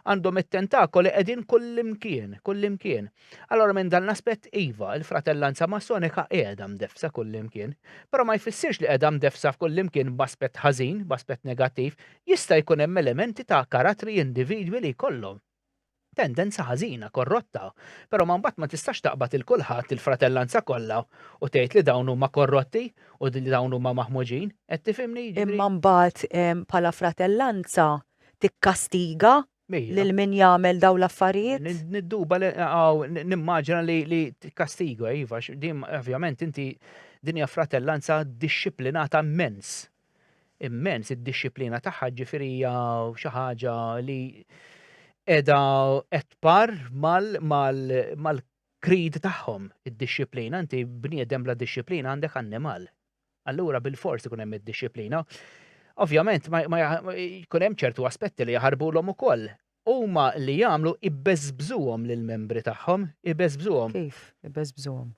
Għandhom it-tentakoli qegħdin kullimkien, kullimkien. Allora minn dan l-aspett iva, il-fratellanza massonika qiegħda mdeffsa kullimkien, però ma jfissirx li qiegħda mdeffsa f'kullimkien b'aspett ħażin, b'aspett negattiv, jista' jkun hemm elementi ta' karattri individwi li jkollhom. Tendenza ħażina, korrotta. Però ma mbagħad ma tistax taqbad lil kulħadd, il-fratellanza kollha, u tgħid li dawn huma korrotti u li dawn huma maħmuġin. Qed tifhimni? Imma mbagħad bħala fratellanza tikkastiga lil min jagħmel dawn l-affarijiet? Nidduba li hawn, nimmaġina li tikkastiga, iva, għax din ovvjament inti din hija fratellanza dixxiplinata mmens. immens id-dixxiplina tagħha, ġifieri hija xi ħaġa li qiegħda qed par mal-krid tagħhom id-dixxiplina, inti bniedem bla dixxiplina għandek annimal. Allura bil-fors ikun hemm id-dixxiplina. Ovvjament ma jkun hemm ċertu aspetti li jaħarbulhom ukoll. Huma li jagħmlu ibbeżbżuhom lill-membri tagħhom, ibbeżbżuhom. Kif ibbeżbżuhom?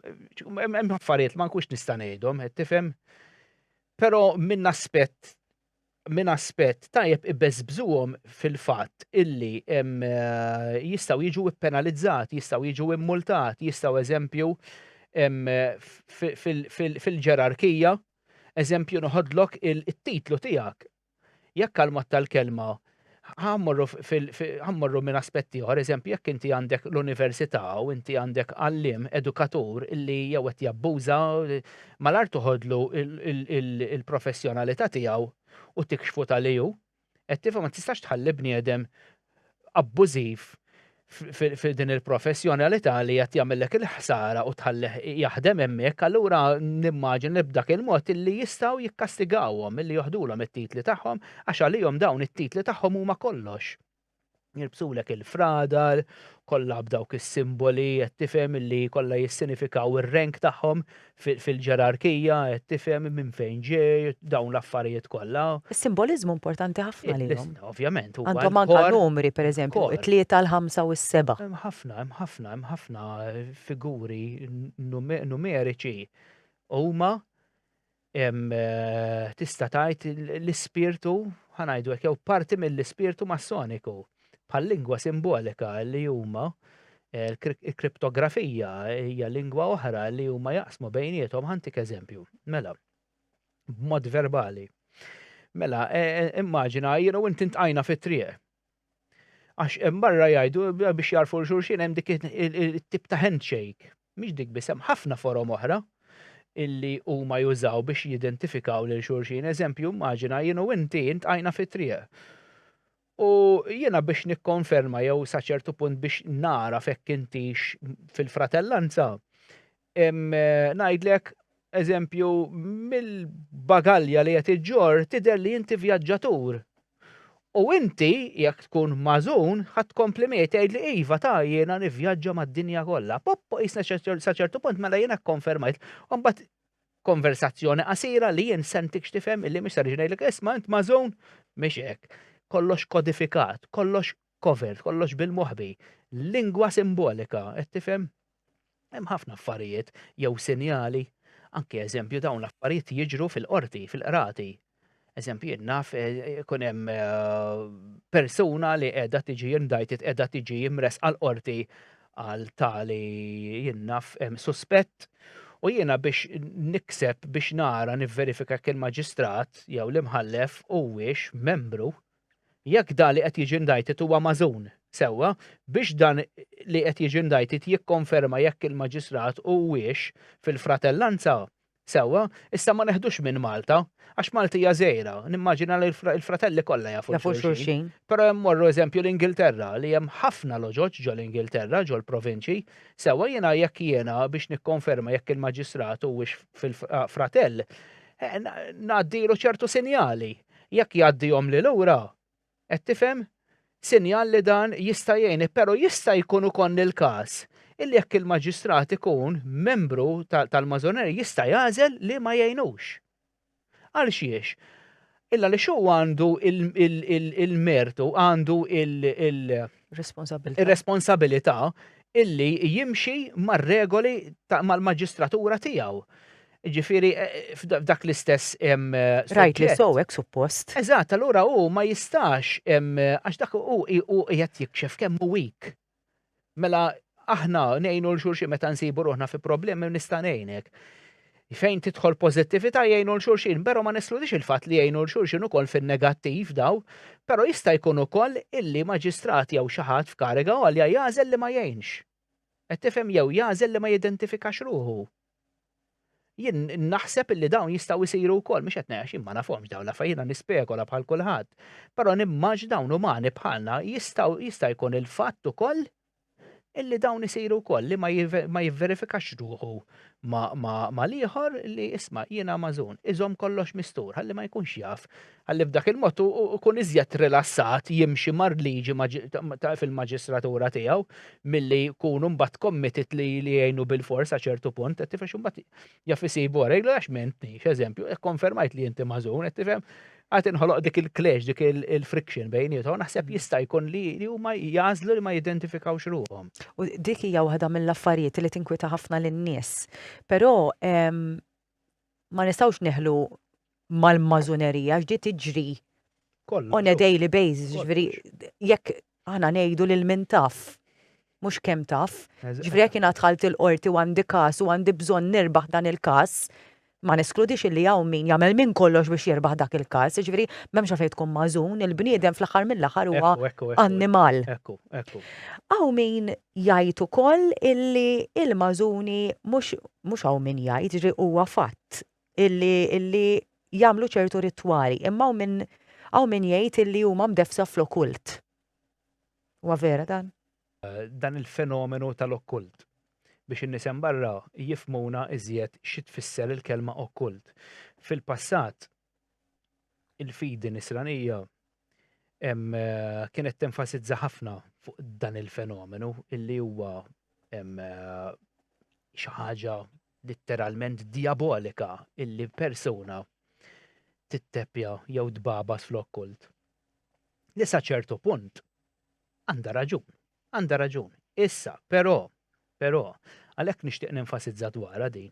Hemm affarijiet ma nkunx nista' ngħidhom, qed tifhem? Però minn aspett minn aspett tajjeb ibbeżbżuhom fil-fatt illi eh, jistgħu jiġu penalizzati, jistgħu jiġu immultati, jistgħu eżempju fil-ġerarkija, eżempju noħodlok il-titlu tiegħek Jekk għal mod tal-kelma, ħa mmorru fil, ħa mmorru minn aspett ieħor, eżempju, jekk inti għandek l-università u inti għandek għalliem, edukatur, illi jew qed jabbuża, malajr toħodlu l-professjonalità tiegħu u tikxfu ta' li hu. Qed tifhem, ma tistax tħalli bniedem abbużiv f'din il-professjonalità li qed jagħmellek il-ħsara u tħallih jaħdem hemmhekk, allura nimmaġin li b'dak il-mod li jistgħu jikkastigawhom milli joħdulhom it-titli tagħhom għax għalihom dawn it-titli tagħhom huma kollox. Jirbsulek il-fradar, kollha b'dawk is-simboli qed tifhem li kollha jissinifikaw ir-rank tagħhom Fil-ġerarkija qed tifhem minn fejn ġej, dawn l-affarijiet kollha. Is-simboliżmu importanti ħafna lilhom. Ovvjament, huwa. Għandhom anke numri, pereżempju, it-tlieta, l-ħamsa u s-seba'. Hemm ħafna, hemm ħafna, hemm ħafna figuri numeriċi. Huma, tista' tgħid, l-ispirtu, ħa ngħidu hekk, jew parti mill-ispirtu Massoniku. bħal lingwa simbolika li huma il-kriptografija hija lingwa oħra li huma jaqsmu bejniethom ħantik eżempju. Mela, b'mod verbali. Mela, e, e, immaġina jiena u inti ntqajna fit-triq. Għax hemm barra jgħidu biex jarfu xulxin hemm dik it-tip ta' handshake. Mhix dik biss hemm ħafna forom oħra illi huma jużaw biex jidentifikaw lil xulxin. Eżempju, immaġina jiena u inti ntqajna fit-triq. U jiena biex nikkonferma jew sa ċertu punt biex nara fekk intix fil-fratellanza, ngħidlek eżempju mill-bagalja li qed iġġorr tidher li inti vjaġġatur. U inti jekk tkun mażun ħadd tkompli miegħi tgħidli iva ta' jiena nivvjaġġa mad-dinja kollha. Poppo qisna sa ċertu punt mela jiena kkonfermajt. Imbagħad Konversazzjoni qasira li jien sentik x'tifhem illi mhix sarix ngħidlek isma' int mażun mhix hekk. Kollox kodifikat, kollox covert, kollox bil-moħbi. Lingwa simbolika, qed tifhem? Hemm ħafna affarijiet jew sinjali. Anke eżempju dawn l-affarijiet jiġru fil-qorti, fil-qrati, Eżempju, naf eh, ikun hemm eh, persuna li qiegħda tiġi indajtit qiegħda tiġi imres għal qorti għal tali jinnaf suspett u jiena biex nikseb biex nara nivverifika kien maġistrat jew l-imħallef huwiex membru jekk da li qed jiġi indajtit huwa mażun sewwa biex dan li qed jiġi indajtit jikkonferma jekk il-maġistrat huwiex fil-fratellanza Sewwa, issa ma neħdux minn Malta, għax Malti hija żgħira, nimmaġina li l-fratelli kollha jafu lil xulxin. Jafu xulxin. Però hemm morru eżempju l-Ingilterra, li hemm ħafna loġoġ ġol-Ingilterra, ġol-provinċi. Sewwa, jiena jekk jiena biex nikkonferma jekk il-maġistrat huwiex fil-fratell, ngħaddilu ċertu sinjali. Jekk jgħaddihom lil lura, Qed tifhem? Sinjal li dan jista' jgħin, però jista' jkun ukoll il-każ illi jekk il-maġistrat ikun membru tal-Mażoneria jista' jagħżel li ma jgħinux. Għal xiex? Illgħaliex hu għandu il-mertu, għandu il- Responsabilità. Ir-responsabilità illi jimxi mar-regoli mal-maġistratura tiegħu. Jiġifieri f'dak l-istess suġġett. Rajt li sew hekk suppost. Eżatt, allura hu ma jistax għax dak hu qiegħed jikxef kemm hu weak. Mela aħna ngħinu lil xulxin meta nsibu ruħna fi problemi nista' ngħinek. Fejn tidħol pożittività jgħinu lil xulxin, però ma neskludix il-fatt li jgħinu lil xulxin ukoll fin-negattiv daw, però jista' jkun ukoll illi maġistrat jew xi ħadd f'kariga għolja jagħżel li ma jgħinx. Qed tifhem jew jagħżel li ma jidentifikax ruħu. Jien naħseb illi dawn jistgħu jsiru wkoll, mhux qed ngħid jien ma nafhomx dawn l-affarijiet jiena nispekola bħal kulħadd. Però nimmaġ dawn umani bħalna jistgħu jista' jkun il-fatt ukoll illi dawn isiru wkoll li ma jivverifikax ruħu mal-ieħor li isma' jiena magħżun, iżomm kollox mistur ħalli ma jkunx jaf Ħalli b'dak il-mod hu jkun iżjed rilassat jimxi mar-liġi fil-maġistratura tiegħu milli jkunu mbagħad committed li jgħinu bil-fors sa ċertu punt, qed tifhem mbagħad jaf isibu wara jgħidlu għax mentni, x'eżempju, ikkonfermajt li inti mażun, qed tifhem, għad inħoloq dik il-clash, dik il-friction bejniethom, naħseb jista' jkun li huma jażlu li ma jidentifikawx ruhom. U dik hija waħda mill-affarijiet li tinkwita ħafna lin-nies. Però ma nistgħux neħlu mal-mażunerija x'di tiġri on a daily basis, ġifieri jekk aħna ngħidu lil min taf mhux kemm taf, ġifieri jekk jiena dħalt il-qorti u għandi każ u għandi bżonn nirbaħ dan il-każ, ma neskludix illi hawn min jagħmel minn kollox biex jirbaħ dak il-każ, jiġifieri m'hemmx għalfejn tkun magħżun, il-bniedem fl-aħħar mill-aħħar huwa annimal. Hawn min Jgħid ukoll illi il-Mażuni mhux mhux hawn min jgħid, jiġri huwa fatt illi illi jagħmlu ċertu ritwali, imma hawn min hawn min jgħid illi huma mdeffsa fl-okkult. Huwa vera dan? dan il-fenomenu tal-okkult biex in-nies hemm barra jifhmuna iżjed xi tfisser il-kelma okkult. Fil-passat il-fidi nisranija kienet tenfasizza ħafna fuq dan il-fenomenu illi huwa xi ħaġa litteralment diabolika illi persuna titteppja jew tbabas fl-okkult. Li sa ċertu punt għandha raġun, għandha raġun. Issa, però, però, għalhekk nixtieq nenfasizza dwarha din.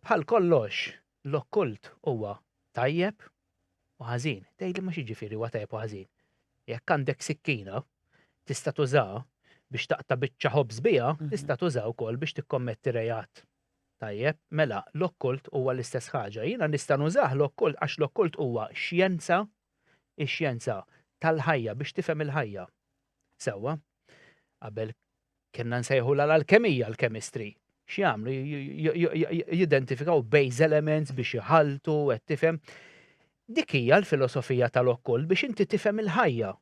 Bħal kollox, L-okkult huwa tajjeb u ħażin. Tgħidli ma x'jiġifieri huwa tajjeb u ħażin? Jekk għandek sikkina, tista' tużaha biex taqta' biċċa ħobż biha, tista' tużaha wkoll biex tikkommetti reat. Tajjeb, mela l-okkult huwa l-istess ħaġa. Jiena nista' nużah l-okkult għax l-okkult huwa xjenza, ix-xjenza tal-ħajja biex tifhem il-ħajja. Sewwa? Qabel Kienna nsejħulha l-alkemija, l-kemistri. X'jagħmlu? Jidentifikaw base elements biex jħaltu, qed tifhem. Dik hija l-filosofija tal-okkult biex inti tifhem il-ħajja.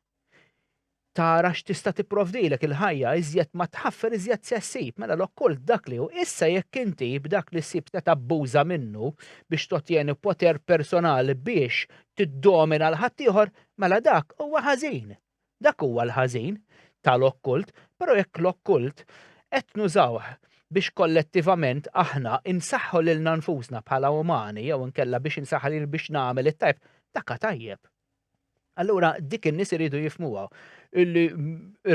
Tara x'tista' tipprovdilek il-ħajja iżjed ma tħaffer iżjed se ssib, mela l-okkult dak li hu. Issa jekk inti b'dak li ssib se tabbuża minnu biex totjeni poter personali biex tiddomina l-ħaddieħor, mela dak huwa ħażin. Dak huwa l-ħażin tal-okkult, però jekk l-okkult qed nużawh biex kollettivament aħna insaħħu lilna nfusna bħala umani jew inkella biex insaħħa lili biex nagħmel it-tajjeb, dak tajjeb. Allura dik in-nies iridu jifmuha illi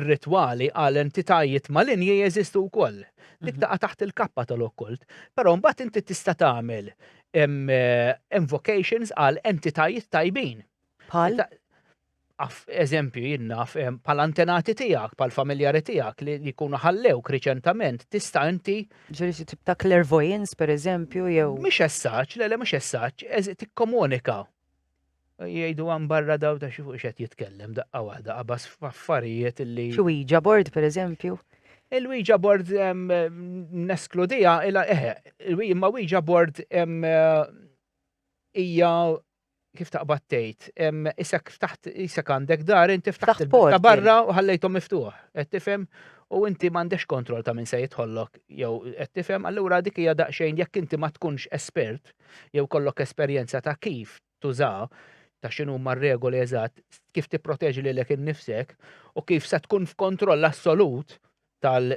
r-ritwali għal entitajiet malinji jeżistu wkoll. Dik mhm. taqa' taħt il-kappa tal-okkult, però mbagħad inti tista' tagħmel eh, invocations għal entitajiet tajbin. Bħal? Af eżempju jien naf bħal antenati tiegħek, bħal familjari tiegħek li jkunu ħallewk riċentament tista' inti Ġifieri xi tip ta' clairvoyance pereżempju jew Mhix essaġġ, le le mhux essaġġ, eż- tikkomunika. Jgħidu hemm barra daw ta' xi fuq x'qed jitkellem daqqa waħda qabas f'affarijiet li xi Ouija board pereżempju. Il-Ouija board em, neskludija, ila eħe, il-Ouija- imma Ouija board em, eh, hija kif taqbad tgħid, isek ftaħt isek għandek dar, inti ftaħt ta' barra u ħallejthom miftuħ, qed tifhem? U inti m'għandekx kontroll ta' min se jidħollok jew qed tifhem, allura dik hija daqsxejn jekk inti ma tkunx espert jew kollok esperjenza ta' kif tuża ta' x'inhu ma regoli eżatt, kif tipproteġi lilek innifsek u kif se tkun f'kontroll assolut tal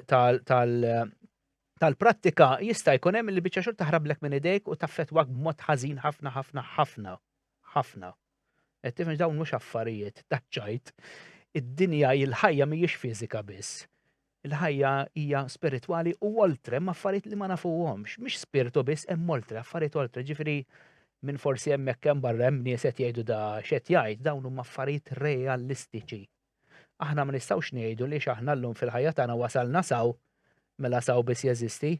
tal-prattika, jista' jkun hemm li biċċa xogħol taħrablek minn idejk u taffettwak b'mod ħażin ħafna ħafna ħafna. Ħafna. Qed tifhem dawn mhux affarijiet ta' ċajt. Id-dinja il-ħajja mhijiex fiżika biss. Il-ħajja hija spiritwali u oltre ma' affarijiet li ma nafuhomx. Mhix spirtu biss hemm oltre, affarijiet oltre. Ġifieri minn forsi hemmhekk hemm barra hemm nies qed jgħidu da x'qed jgħid, dawn huma affarijiet realistiċi. Aħna ma nistgħux ngħidu li x'aħna llum fil-ħajja tagħna wasalna s'hawn, mela s'hawn biss jeżisti.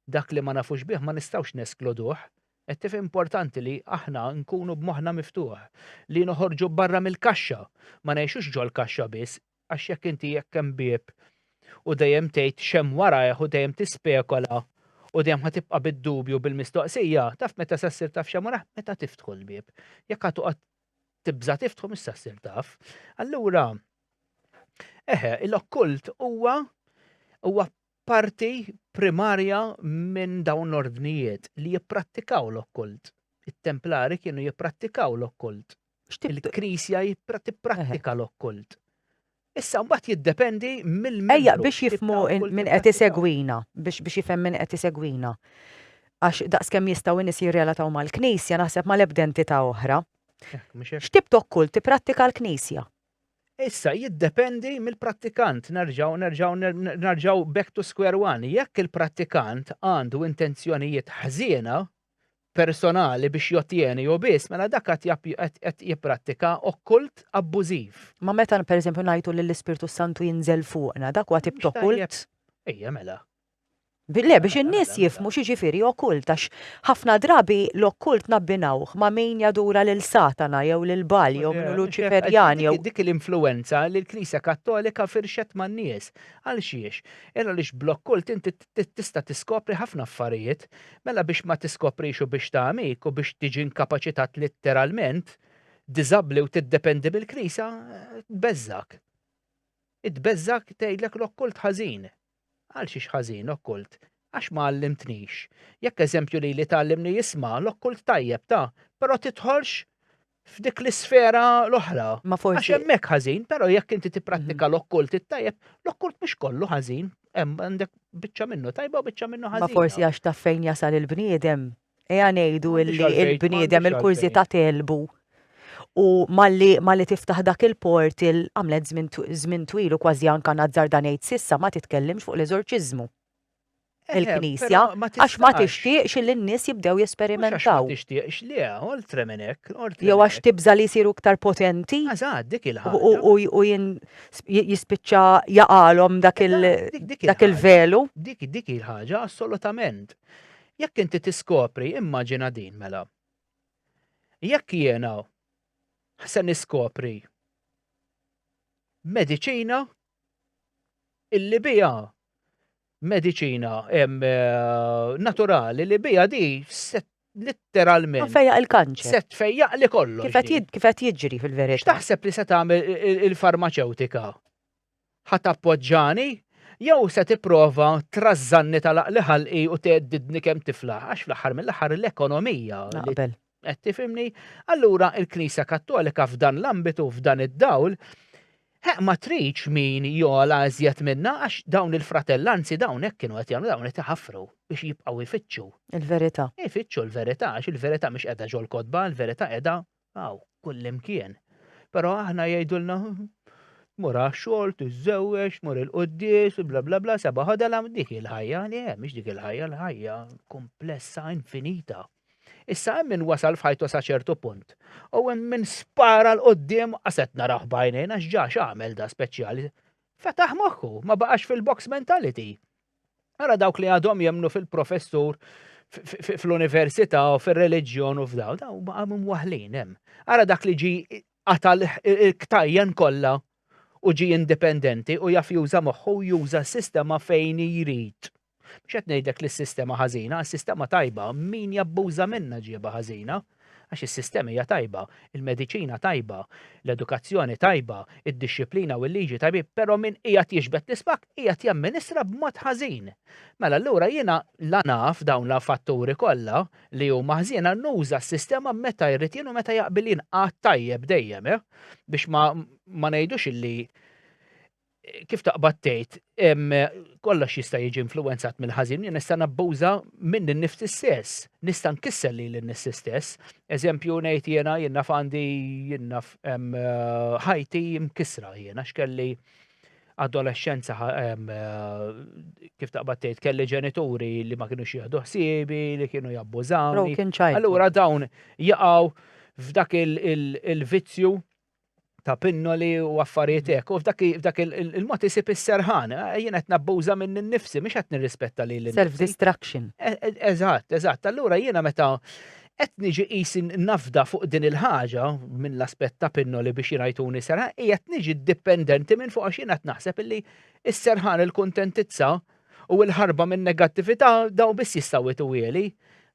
Dak li ma nafux bih ma nistgħux neskluduh. Qed tifhem importanti li aħna nkunu b'moħħna miftuħ, li noħorġu barra mill-kaxxa, ma ngħixux ġol-kaxxa biss, għax jekk inti jekk hemm bieb u dejjem tgħid x'hemm warajh u dejjem tispekola u dejjem ħa tibqa' bid-dubju bil-mistoqsija, taf meta sa ssir taf x'hemm warajh? Meta tiftħu l-bieb. Jekk ħa toqgħod tibża' tiftħu mista ssir taf. Allura eħe, l-okkult huwa huwa parti primarja minn dawn l-ordnijiet li jipprattikaw l-okkult. It-Templari kienu jipprattikaw l-okkult. Il-Knisja tipprattika l-okkult. Issa mbagħad jiddependi mill-membru. Ejja, biex jifhmu min qed isegwina, biex jifhem min qed isegwina. Għax daqskemm jistgħu n-nies jirrelataw mal-Knisja naħseb ma' l-ebda entità oħra. X'tip ta' kult tipprattika l-Knisja? Issa jiddependi mill-prattikant, nerġgħu nerġgħu nerġgħu back to square one. Jekk il-prattikant għandu intenzjonijiet ħżiena, personali biex jottjeni jew biss, mela dak qed jipprattika okkult abbużiv. Imma meta, per eżempju, ngħidu li l-Ispirtu s-Santu jinżel fuqna, dak huwa tip t'okkult? Ejja, mela. Le, biex in-nies jifhmu x'jiġifieri okkult, għax ħafna drabi l-okkult nabbinawh ma' min jadura lil Satana jew lil Baal jew minn Luċiferjan jew. Dik hi l-influwenza li l-Knisja Kattolika firxet man-nies. Għal xiex? Għaliex bl-okkult inti tista' tiskopri ħafna affarijiet, mela biex ma tiskoprix u biex tagħmik u biex tiġi inkapaċitat litteralment, diżabbli u tiddependi mill-Knisja, tbeżżgħek. Hi tbeżżgħek tgħidlek l-okkult ħażin. Għal xiex ħażin okkult? Għax ma għallimtnix. Jekk eżempju lili tgħallimni isma' l-okkult tajjeb ta, però tidħolx f'dik l-isfera l-oħra. Ma forsi. Għax hemmhekk ħażin, però jekk inti tipprattika mhm. l-okkult it-tajjeb, l-okkult mhux kollu ħażin, hemm għandek biċċa minnu tajba u biċċa minnu ħażin. Ma forsi għax taf fejn jasal il-bniedem. Eja ngħidu il-bniedem il-kurżità telbu. U malli malli tiftaħ dak il-port il-għamlet żmien twil u kważi anka nazzar dan ngħid sissa ma titkellimx fuq l-eżorċiżmu. il-Knisja għax ma tixtieqx li n-nies jibdew jesperimentaw. Ma tixtieqx li oltre minn hekk, oltre. Jew għax tibża' li jsiru iktar potenti. Eżatt, dik il-ħaġa. U jispiċċa jaqalhom dak il-velu. Dik dik il-ħaġa assolutament. Jekk inti tiskopri, immaġina din mela. Jekk jiena se niskopri mediċina illi biha mediċina naturali li biha di set litteralment. Fejjaq il-kanċer. Set fejjaq li kollu. Kif qed jiġri fil-verità. X'taħseb li se tagħmel il-farmaceutika? Ħat appoġġani? Jew se tipprova trażżanni tal-aqli ħalqi u teddidni kemm tifla? Għax fl-aħħar mill-aħħar l-ekonomija. Naqbel. Qed tifhimni? Allura l-Knisja Kattolika f'dan l-ambitu, f'dan id-dawl, Heq ma tridx min jogħla iżjed minnha għax dawn il-fratellanzi dawn hekk kienu qed jagħmlu dawn qed iħaffru biex jibqgħu jfittxu. Il-verità. Ifittxu l-verità għax il-verità mhix qiegħda ġol-kotba, il-verità qiegħda hawn kullimkien. Però aħna jgħidulna mur għax-xogħol, tiżżewweġ, mur il-quddies, bla bla bla, seba' ħodela dik il-ħajja li hemm, mhix dik il-ħajja, l-ħajja komplessa, infinita. Issa hemm min wasal f'ħajtu sa ċertu punt u hemm min spara l qudiem qaset narah b'għajnejn għax ġa x'għamel da speċjali. Fetaħ moħħu, ma baqax fil-box mentality. Ara dawk li għadhom jemnu fil-professur fl-università u fil-reliġjon u f'daw, daw għamum waħlin hemm. Ara dak li ġi għatal ktajjen kollha u ġi indipendenti u jaf juża moħħu juża sistema fejn jrid. Mhux qed ngħidlek li s-sistema ħażina, is-sistema tajba, min jabbuża minnha ġiebha ħażina. Għax is-sistema hija tajba, il-mediċina tajba, l-edukazzjoni tajba, id-dixxiplina u l-liġi tajbin, però min qiegħed jixbet l-ispak qiegħed jamministra b'mod ħażin. Mela allura jiena la naf dawn l-fatturi kollha li huma ħżiena nuża s-sistema meta jrid jien u meta jaqbil jien għad tajjeb dejjem, eh? Biex ma, ma ngħidux illi kif taqbad tgħid, kollox jista' jiġi influenzat mill-ħażin, jien nista' nabbuża minn nifsi stess, nista' nkissel li l-nifsi stess. Eżempju ngħid jiena jien naf għandi jien naf ħajti mkissra jiena x'kelli adolescenza kif taqbad tgħid kelli ġenituri li ma kienu jieħdu ħsiebi, li kienu jabbużawni. Allura dawn jaqgħu f'dak il-vizzju ta' pinnoli u affarijiet hekk. U f'dak il-mod isib is-serħan, eh, jien qed nabbuża minn innifsi, mhux qed nirrispetta li l Self-destruction. E, e, eżatt, eżatt. Allura jiena meta qed niġi qis nafda fuq din il-ħaġa minn l-aspett ta' pinnoli biex jirajtuni serħan, qiegħed niġi dipendenti minn fuq għax jiena qed naħseb illi s-serħan il-kuntentizza u l-ħarba minn negattività daw biss jistgħu jtuwieli.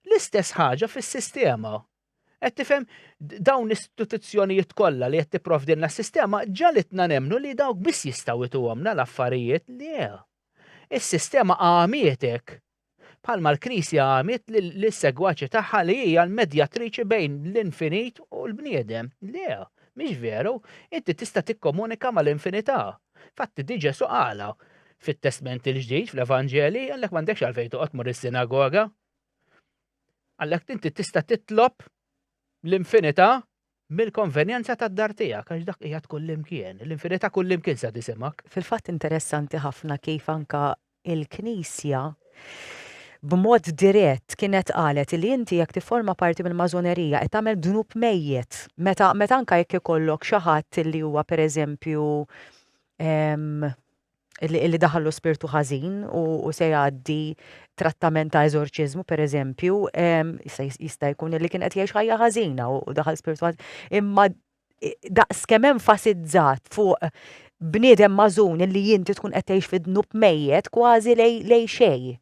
L-istess ħaġa fis-sistema. Qed tifhem dawn l-istituzzjonijiet kollha li qed tipprovdilna s-sistema ġalitna nemnu li dawk biss jistgħu jtuhomna l-affarijiet li Is-sistema għamietek bħalma l-Knisja għamiet lis-segwaċi tagħha li hija l-medjatriċi bejn l-infinit u l-bniedem. Le, mhix veru, inti tista' tikkomunika mal-infinità. Fatti di Ġesu qala fit-Testment il-Ġdid fl-Evanġeli għalhekk m'għandekx għalfejn toqgħod mur is-sinagoga. Għalhekk inti tista' titlob l-infinità mill-konvenjenza tad-dar tiegħek għax dak qiegħed kullimkien, l-infinità kullimkien se tisimak. Fil-fatt interessanti ħafna kif anka il-Knisja b'mod dirett kienet qalet li inti jekk tifforma parti mill-mażonerija qed tagħmel dnub mejjet. Meta meta anka jekk ikollok xi ħadd li huwa pereżempju li daħallu spirtu ħażin u se jgħaddi trattament ta' eżorċiżmu pereżempju, jista' jkun li kien qed jgħix ħajja ħażina u daħal spirtu ħażin. Imma daqs kemm enfasizzat fuq bniedem mażun li jinti tkun qed tgħix fid-dnub mejjet kważi lej xej.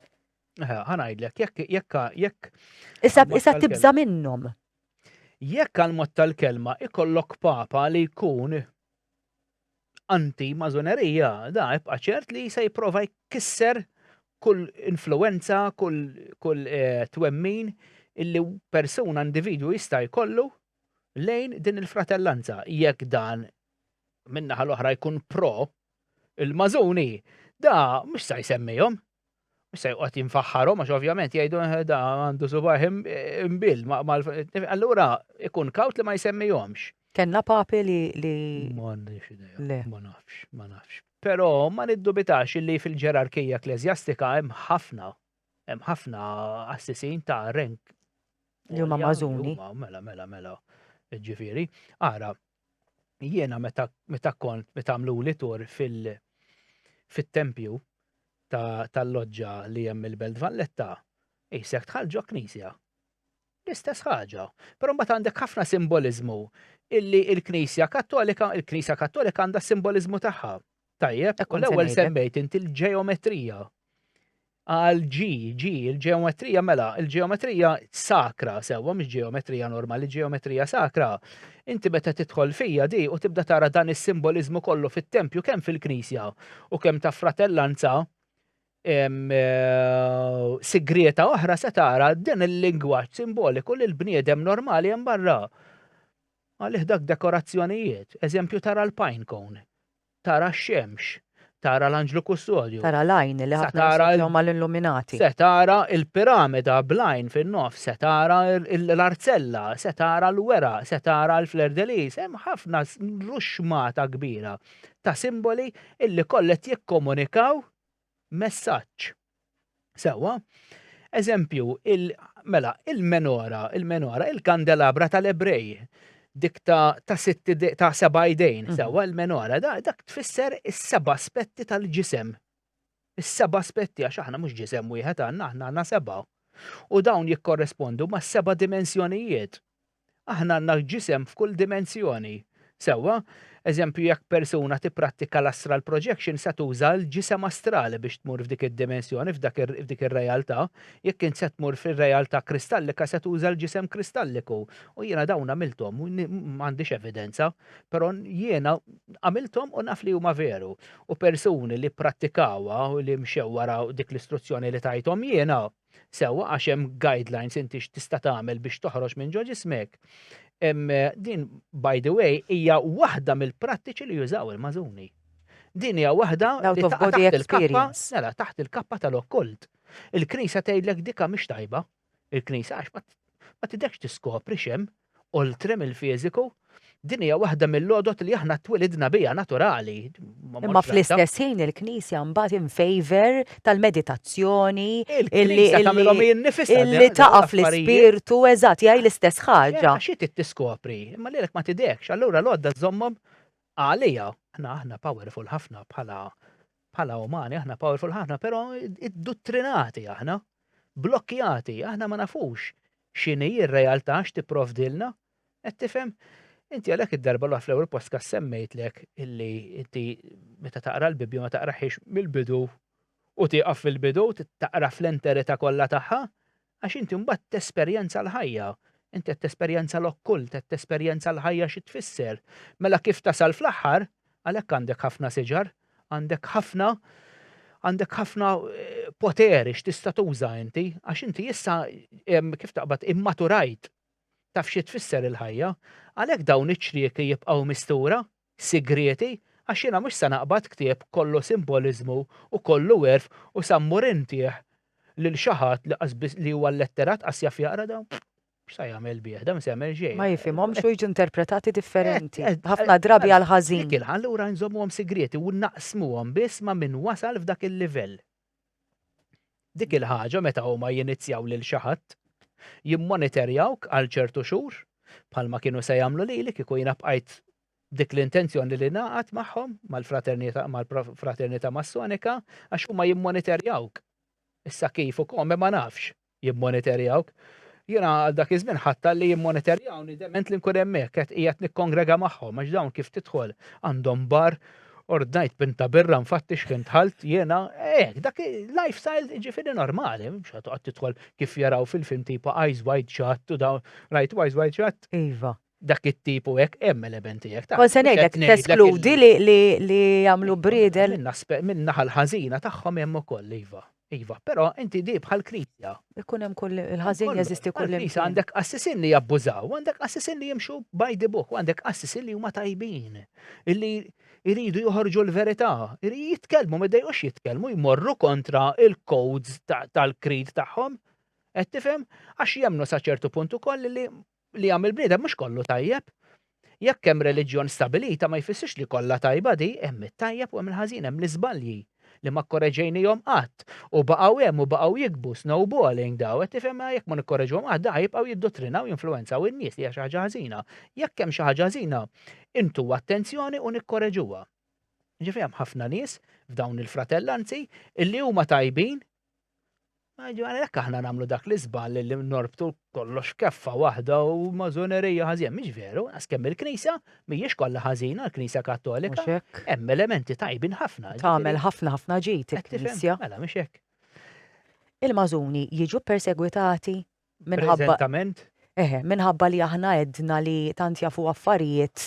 Ħanajdlek, jekk jekk jekk. Issa tibża minnhom. Jekk għal mod tal-kelma ikollok papa li jkun anti-mażonerija da ibqa' ċert li se jipprova jkisser kull influwenza, kull, kull eh, twemmin illi persuna individwu jista' jkollu lejn din il-fratellanza. Jekk dan minnaħa l-oħra jkun pro il-mażuni, da mhux se jsemmihom, Mhux se joqgħod jinfaħħarhom għax ovvjament jgħidu eh, da għandu subajh imbil. Allura ikun kawt li ma jsemmihomx. Kenna papi li li. M'għandix idea. Ma nafx, ma nafx. Però ma niddubitax li fil-ġerarkija ekklesjastika hemm ħafna hemm ħafna assisin ta' renk. Li huma mażuni. Mela, mela, mela. Ġifieri, ara, jiena meta meta kont meta għamluli tur fil fit-tempju ta' tal-loġġa li hemm il-Belt Valletta, isek tħall ġo knisja. L-istess ħaġa. Però mbagħad għandek ħafna simboliżmu illi il-Knisja Kattolika, il-Knisja Kattolika għandha s-simboliżmu tagħha. Tajjeb, Ekkont se l-ewwel ngħidlek. semmejt inti l-ġeometrija. Għal G, G, il-ġeometrija mela, il-ġeometrija sakra sewwa mhix ġeometrija normali, ġeometrija sakra. Inti meta tidħol fija di u tibda tara dan is-simboliżmu kollu fit-tempju kemm fil-knisja u kemm ta' fratellanza eh, sigrieta oħra se tara din il-lingwaġġ simboliku li l-bniedem normali hemm barra. Għalih dak dekorazzjonijiet, eżempju tara l-pine cone Tara x-xemx. Tara l-anġlu kustodju. Tara l-għajn li ħafna jassoċjaw mal-illuminati. Se tara l-piramida bl-għajn fin-nofs, se tara l-arzella, se tara l-weraq, se tara l-fleur de lis, hemm ħafna ruxxmata kbira ta' simboli illi kollha qed jikkomunikaw messaġġ. Sewwa? Eżempju, il, mela, il-menora, il-menora, il-kandelabra tal-Ebrej, dik ta', ta, sitti, ta seba' idejn, mhm. sewwa, il-menora, da, dak tfisser is-seba' aspetti tal-ġisem. Is-seba' aspetti, għax aħna mhux ġisem wieħed għandna, aħna għandna seba'. U dawn jikkorrespondu ma' seba' dimensjonijiet. Aħna għandna l-ġisem f'kull dimensjoni. Sewwa, eżempju jekk persuna tipprattika l-astral projection se tuża l-ġisem astrali biex tmur f'dik id-dimensjoni, f'dik ir-realtà. Jekk int se tmur fir-realtà kristallika se tuża l-ġisem kristalliku. U jiena dawn għamilthom, m'għandix evidenza, però jiena għamilthom u naf li huma veru. U persuni li pprattikawha u li mxew wara dik l-istruzzjoni li tajthom jiena, Sewwa għax hemm guidelines inti x'tista' tagħmel biex toħroġ minn ġo ġismek. Din by the way hija waħda mill-prattiċi li jużaw il-mażuni. Din hija waħda li taħt il-kappa, mela taħt il-kappa tal-okkult. Il-Knisja tgħidlek dika mhix tajba. Il-Knisja għax ma tidekx tiskopri xem oltre mill-fiżiku, din hija waħda mill-għodod li aħna twilidna biha naturali. Imma fl-istess ħin il-Knisja mbagħad in favor tal-meditazzjoni illi illi taqaf l-ispirtu eżatt jgħid l-istess ħaġa. Xi tiskopri, imma lilek ma tidekx, allura l-għodda żommhom għalija. Aħna aħna powerful ħafna bħala Bħala umani aħna powerful ħafna, però idduttrinati aħna, blokkjati, aħna ma nafux x'inhi r-realtà x'tipprovdilna. Qed tifhem? Inti għalhekk id-darba l-oħra fl-ewwel postka semmejtlek illi inti meta taqra l-Bibbja ma taqraħiex mill-bidu u tieqaf fil-bidu, taqra fl-enterità kollha tagħha, Għax inti mbagħad tesperjenza l-ħajja. Inti qed tesperjenza l-okkult, qed tesperjenza l-ħajja xi tfisser. Mela kif tasal fl-aħħar, għalhekk għandek ħafna siġar, għandek ħafna għandek ħafna poteri x'tista' tuża inti, għax inti issa kif taqbad immaturajt taf xi tfisser il-ħajja, għalhekk dawn iċ-ċrieki jibqgħu mistura, sigrieti għax jiena mhux se naqbad ktieb kollu simboliżmu u kollu għerf u se mmur intih lil xi ħadd li qas biss li huwa lletterat qas jaf jaqra dan x'se jagħmel bih dan ma se jagħmel xejn. Ma jifhimhomx u jiġu interpretati differenti, ħafna drabi għall-ħażin. Allura nżommuhom sigrieti u naqsmuhom biss ma' min wasal f'dak il-livell. Dik il-ħaġa meta huma jinizzjaw lil xi ħadd, jimmoniterjawk għal ċertu xhur, bħalma kienu se jagħmlu lili kieku jiena bqajt b'dik l-intenzjoni li ningħaqad magħhom, mal-Fraternità Massonika, għax huma jimmoniterjawk. Issa kif u kome ma nafx. jimmonitorjawk. Jiena għal dak iż-żmien ħatta li jimmonitorjawni dement li nkun hemmhekk qed qiegħed nikkongrega magħhom għax dawn kif tidħol għandhom bar ordnajt pinta birra nfattix fejn dħalt jiena hekk dak lifestyle ġifieri normali mhux qed toqgħod tidħol kif jaraw fil-film tipa Eyes Wide Shut u dawn rajt Eyes Wide Shut. Iva. dak it-tip u hekk hemm elementi hekk ta'. Kon se ngħidlek teskludi li jagħmlu bridel. Minn naħa l-ħażina tagħhom hemm ukoll iva. Iva, però inti di bħal knisja. Ikun hemm kull il-ħażin jeżisti kull imkien. Għandek assisin li jabbużaw, għandek assisin li jimxu by the book, għandek assisin li huma tajbin. Illi jridu joħorġu l-verità, jitkellmu, ma dejqux jitkellmu, jmorru kontra il-codes tal-krid tagħhom. Qed tifhem? Għax jemnu sa ċertu punt ukoll li li jagħmel bniedem mhux kollu tajjeb. Jekk hemm reliġjon stabilita ma jfissirx li kollha tajba di, hemm it-tajjeb u hemm il-ħażin, hemm l-iżbalji li ma kkoreġejnihom qatt u baqgħu hemm u baqgħu jikbu, snowballing daw, qed tifhem, jekk ma nikkoreġuhom qatt daħ jibqgħu jiddottrinaw u jinfluwenzaw in-nies li hija xi ħaġa ħażina. Jekk hemm xi ħaġa ħażina, intuha attenzjoni u nikkoreġuha. Jiġifieri hemm ħafna nies f'dawn il-fratellanzi illi huma tajbin Għalhekk aħna nagħmlu dak l-iżball li norbtu kollox keffa waħda u mażonerija ħażin. Mhix veru, għas kemm il-Knisja mhijiex kollha ħażina, l-Knisja Kattolika. Hemm elementi tajbin ħafna. Tagħmel ħafna ħafna ġid il-Knisja. Mela mhix hekk. Il-mażuni jiġu persegwitati minħabba Eħe, minħabba li aħna edna li tant jafu affarijiet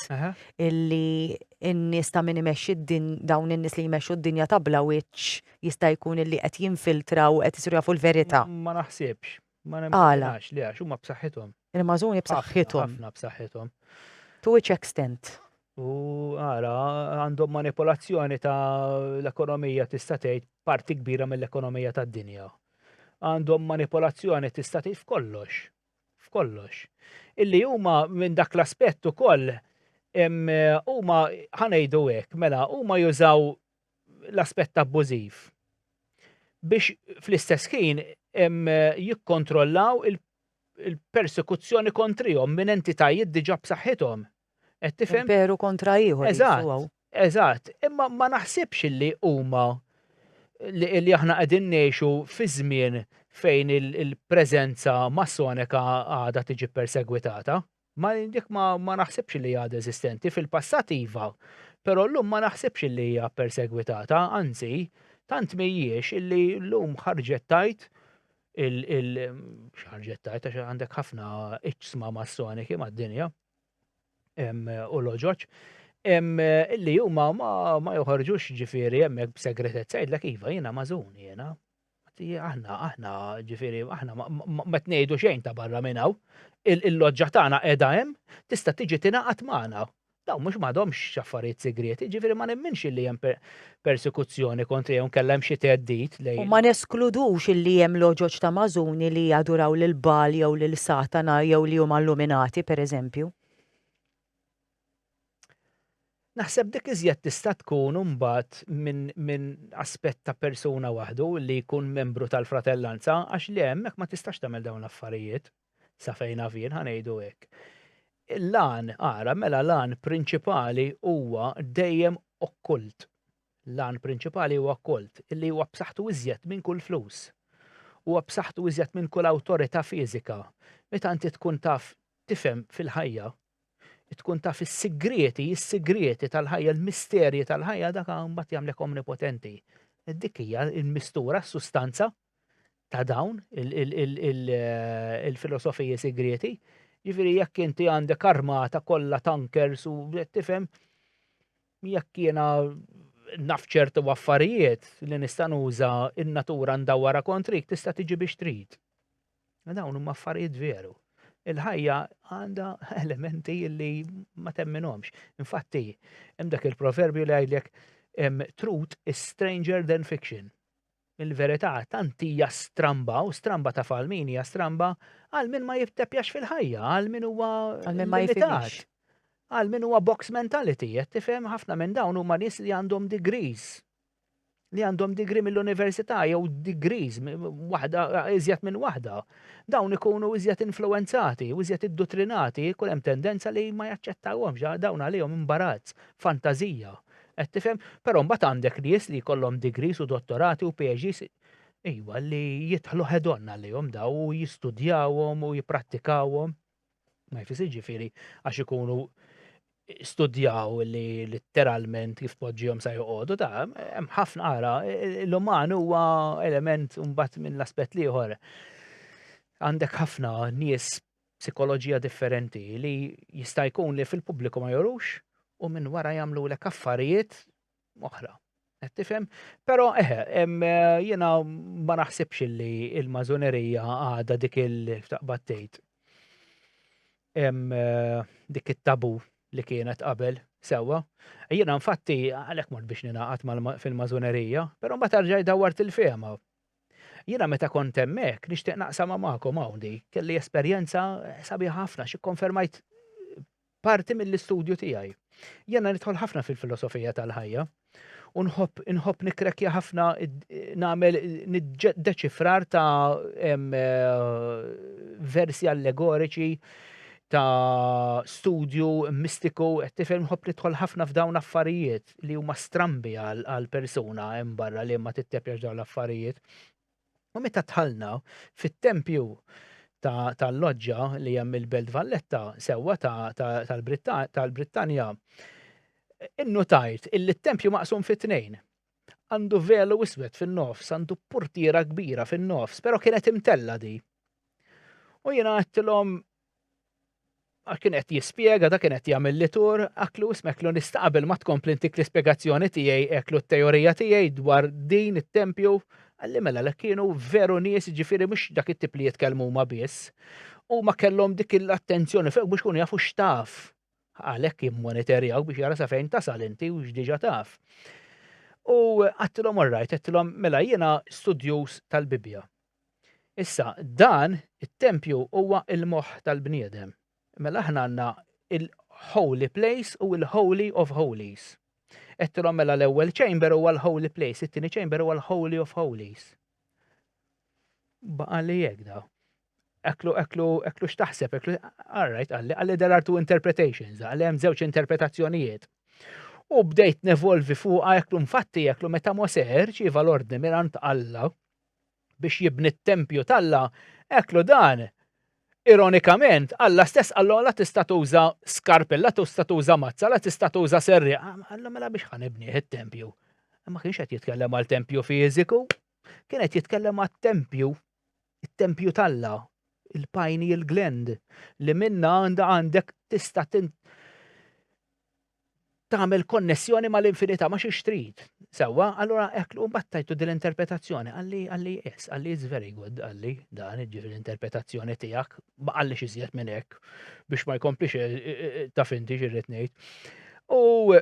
illi n-nies ta' min imexxi din dawn in-nies li jmexxu d-dinja ta' bla wiċċ jista' jkun illi qed jinfiltraw qed isiru jafu l-verità. Ma naħsibx, ma nemmnax li għax huma b'saħħithom. Il-mażuni b'saħħithom. Ħafna b'saħħithom. To which extent? U ara, għandhom manipolazzjoni ta' l-ekonomija tista' tgħid parti kbira mill-ekonomija tad-dinja. Għandhom manipolazzjoni tista' tgħid f'kollox. F'kollox. Illi huma minn dak l-aspett ukoll huma ħanejdu hekk, mela huma jużaw l-aspett abbużiv biex fl-istess ħin jikkontrollaw il-persekuzzjoni kontrihom minn entitajiet diġà b'saħħithom. Qed tifhem? Imperu kontra ieħor qisu hawn. Eżatt, eżatt. Imma ma naħsibx li huma li aħna qegħdin ngħixu fi żmien fejn il-preżenza Massoneka għadha tiġi ppersegwitata. Ma dik ma, ma naħsibx li għadha eżistenti, fil-passat iva, però llum ma naħsibx li hija ppersegwitata, anzi, tant mhijiex illi llum ħarġet tajt il-, il ħarġet tajt għax għandek ħafna iċsma Massoneki mad-dinja. u l-oġoġ li huma ma joħorġux ġifieri hemmhekk b'segretezza jgħidlek iva jiena mażun jiena. Aħna aħna ġifieri aħna ma tnejdu xejn ta' barra minn hawn. Il-loġġa tagħna qiegħda hemm tista' tiġi tingħaqad magħna. Dawn mhux m'għadhomx affarijiet segrieti, ġifieri ma nemminx li hemm persekuzzjoni kontrih jew inkella hemm xi theddid lejn. U ma neskludux illi hemm loġoġ ta' Mażuni li jaduraw lil Baal jew lil Satana jew li huma illuminati, per eżempju. Naħseb dik iżjed tista' tkun imbagħad minn minn aspett ta' persuna waħdu li jkun membru tal-fratellanza għax le hemmhekk ma tistax tagħmel dawn l-affarijiet. sa fejn naf jien ħa ngħidu hekk. L-għan, ara, mela l-għan prinċipali huwa dejjem okkult. L-għan prinċipali huwa okkult, illi huwa b'saħħtu iżjed minn kull flus. Huwa b'saħħtu iżjed minn kull awtorità fiżika. Meta inti tkun taf tifhem fil-ħajja, tkun taf is-sigrieti, is-sigrieti tal-ħajja, l-misterji tal-ħajja dak mbagħad jagħmlek omnipotenti. Dik hija l-mistura, s-sustanza ta' dawn il-filosofiji sigrieti. Ġifieri jekk inti għandek armata kollha tankers u tifhem jekk jiena naf ċertu affarijiet li nista' nuża in-natura ndawwara kontrik tista' tiġi biex trid. Dawn huma affarijiet veru. Il-ħajja għandha elementi li ma temminhomx. Infatti, hemm dak il-proverbju li għidlek truth is stranger than fiction. Il-verità tant hija stramba u stramba taf għal min hija stramba għal min ma jibtepjax fil-ħajja, għal min huwa Għal min ma limitat. jifhimix. Għal min huwa box mentality, qed tifhem ħafna minn dawn huma nies li għandhom degrees. Li għandhom degree mill-università jew degrees mi- waħda iżjed minn waħda. Dawn ikunu iżjed influwenzati u iżjed iddutrinati, jkun hemm tendenza li ma jaċċettawhomx, dawn għalihom imbarazz, fantażija. Qed tifhem? Però mbagħad għandek nies li jkollhom degrees u dottorati u PhDs, ejwa, li jidħlu head on għalihom daw u jistudjawhom u jipprattikawhom. Ma jfis jiġifieri għax ikunu studjaw li litteralment kif tpoġġihom sa joqogħdu ta' hemm ħafna ara l-uman huwa element mbagħad minn l-aspett l-ieħor. Għandek ħafna nies b'sikoloġija differenti li jista' jkun li fil-pubbliku ma jorux u minn wara jagħmlulek affarijiet oħra. Qed tifhem? Però eħe, jiena ma naħsibx li l-mażunerija għadha dik il-taqbad tgħid. Dik it-tabu li kienet qabel sewwa. Jiena infatti għalhekk mort biex ninaqat fil-mażunerija, però ma tarġaj dawwart il-fehma. Jiena meta kont hemmhekk nixtieq naqsamha magħkom hawn di. Kelli esperjenza sabiħa ħafna xi konfermajt parti mill-istudju tiegħi. Jiena nidħol ħafna fil-filosofija tal-ħajja u nħobb inħobb nikrekja ħafna nagħmel deċifrar ta' versi allegoriċi ta' studju mistiku qed tifhem nħobb nidħol ħafna f'dawn affarijiet. li huma strambi għal persuna hemm barra li ma tittepjax dawn l-affarijiet. U meta tħallna fit-tempju tal-loġġa li hemm il-Belt Valletta sewwa tal-Brittanja, innutajt illi t-tempju maqsum fit tnejn Għandu velu iswed fin-nofs, għandu portiera kbira fin-nofs, però kienet imtella di. U jiena għattilhom kien qed jispjega, da kien qed jagħmel li tur, aklu smeklu nista' qabel ma tkompli ntik l-ispjegazzjoni tiegħi eklu t-teorija tiegħi dwar din it-tempju, qalli mela lek kienu veru nies ġifieri mhux dak it-tip li jitkellmu huma biss. Huma kellhom dik l-attenzjoni f'hekk biex ikunu jafu x'taf. Għalhekk jimmonitorjawk biex jara sa fejn tasal inti u x'diġà taf. U għattilhom orrajt, għattilhom mela jiena studjuż tal-Bibbja. Issa, dan it-tempju huwa l-moħħ tal-bniedem. Mela aħna għandna il-holy place u l-holy of holies. Qedtilhom mela l-ewwel chamber huwa l-holy place, it-tieni chamber huwa l-holy of holies. Baqa' li hekk daw eklu, eklu, eklu xtaħseb, eklu, alright, għalli, għalli there are two interpretations, għalli hemm żewġ interpretazzjonijiet. U bdejt nevolvi fuqa eklu mfatti eklu meta Mose ċiva l-ordni mirant Alla, biex jibni t-tempju t'Alla, eklu dan, ironikament, Alla stess qallu Alla tista' tuża skarp, Alla tista' tuża mazza, Alla tista' tuża serrieq. Alla mela biex ħa nibnih it-tempju? Ma kienx qed jitkellem għal tempju fiżiku, kien qed jitkellem għat-tempju, it-tempju t'Alla, il-pineal gland, li minnha għandha għandek tista' tagħmel konnessjoni mal-infinità ma xiex trid. Sewwa, allura hekk u mbagħad tajtu din l-interpretazzjoni għalli għalli yes, għalli it's very good, għalli dan ġifieri l-interpretazzjoni tiegħek ma għalli iżjed minn hekk biex ma jkomplix eh, eh, eh, ta' finti xirrid ngħid. U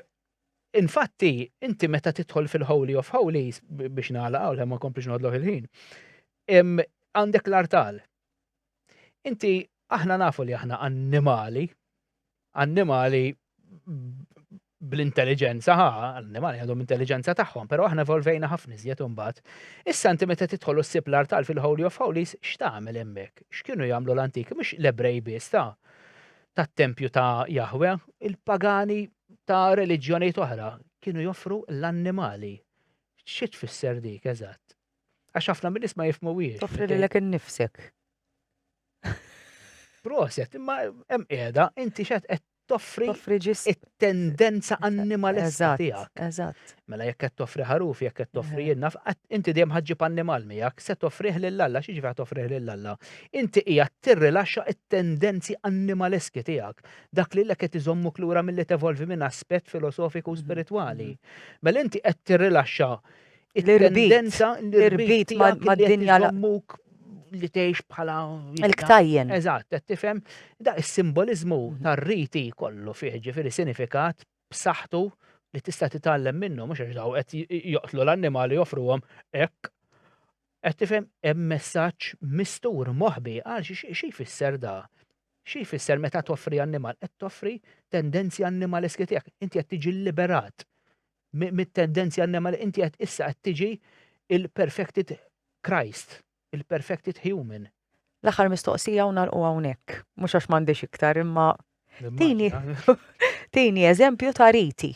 infatti inti meta tidħol fil-Holy of Holies biex nagħlaq u ma komplix nodloħ il-ħin. Għandek l-artal, Inti, aħna nafu li aħna annimali, annimali bl-intelligenza, ha, annimali għandhom intelligenza tagħhom, però aħna evolvejna ħafna iżjed imbagħad. Issa inti meta tidħol ssib l-artal fil-Holy of Holies, x'tagħmel hemmhekk? X'kienu jagħmlu l-antik? Mhux l-Ebrej biss ta' tat-tempju ta' Jahwe, il-pagani ta' reliġjonijiet oħra kienu joffru l-annimali. Xi tfisser dik eżatt? Għax ħafna minn isma jifmu wiex. Toffri li l-ek nifsek. Proset, imma hemm qiegħda, inti xed qed toffri it-tendenza animalista tiegħek. Eżatt. Mela jekk qed toffri ħaruf, jekk qed toffri jenna, inti dejjem ħaġġib annimal miegħek, se toffrih lil Alla, xi ġifier toffrih lil Alla. Inti hija tirrilaxxa it-tendenzi animaleski tiegħek, dak li l qed iżommuk lura milli tevolvi minn aspett filosofiku u mhm. spiritwali. Mhm. Mela inti qed tirrilaxxa It-tendenza l-irbit mad-dinja l-ammuk li tgħix bħala. Il-ktajjen. Eżatt, qed tifhem. Da is-simboliżmu tar-riti kollu fih ġifieri sinifikat b'saħħtu li tista' titgħallem minnu mhux għax daw qed joqtlu l-annimali joffruhom hekk. Qed tifhem hemm messaġġ mistur moħbi għal xi jfisser da. Xi jfisser meta toffri annimal qed toffri tendenzi annimaleski tiegħek. Inti qed tiġi liberat mit-tendenzi annema li inti qed issa qed tiġi il-perfected Christ, il-perfected human. L-aħħar mistoqsija u nagħlqu hawnhekk, mhux għax m'għandix iktar imma tini tini eżempju ta' riti.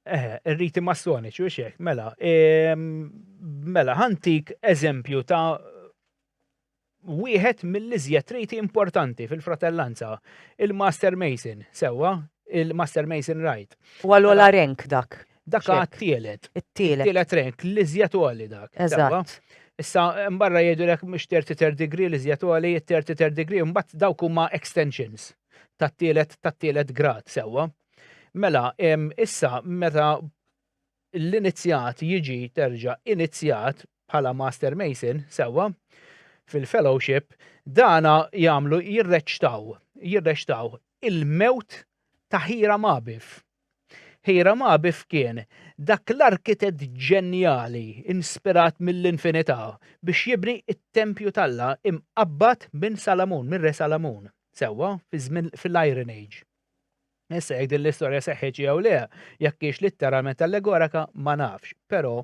Eh, riti massoniċi u xek, mela, ehm, mela, ħantik eżempju ta' wieħed mill-iżjed riti importanti fil-fratellanza, il-Master Mason, sewwa, il-Master Mason Rite. Huwa l-ogħla rank dak. Dak huwa t-tielet. It-tielet. It-tielet rank, l-iżjed għoli dak. Eżatt. Issa, mbarra jgħidu lek mhux 33 degree li żjed għali, 33 degree, mbagħad dawk huma extensions tat-tielet tat-tielet grad sewwa. Mela, issa meta l-inizjat jiġi terġa' inizjat bħala Master Mason, sewwa, fil-Fellowship, dan jagħmlu jirreċtaw, jirreċtaw, il-mewt ta' Hiram Abiff. Hiram Abiff kien dak l-arkitett ġenjali inspirat mill-infinità biex jibni t-tempju t'Alla mqabbad minn Salamun, mir-Re Salamun, sewwa, fiż-żmien, fil-Iron Age. Issa jekk din l-istorja seħħitx jew le, jekk hiex litteralment allegoraka ma nafx, però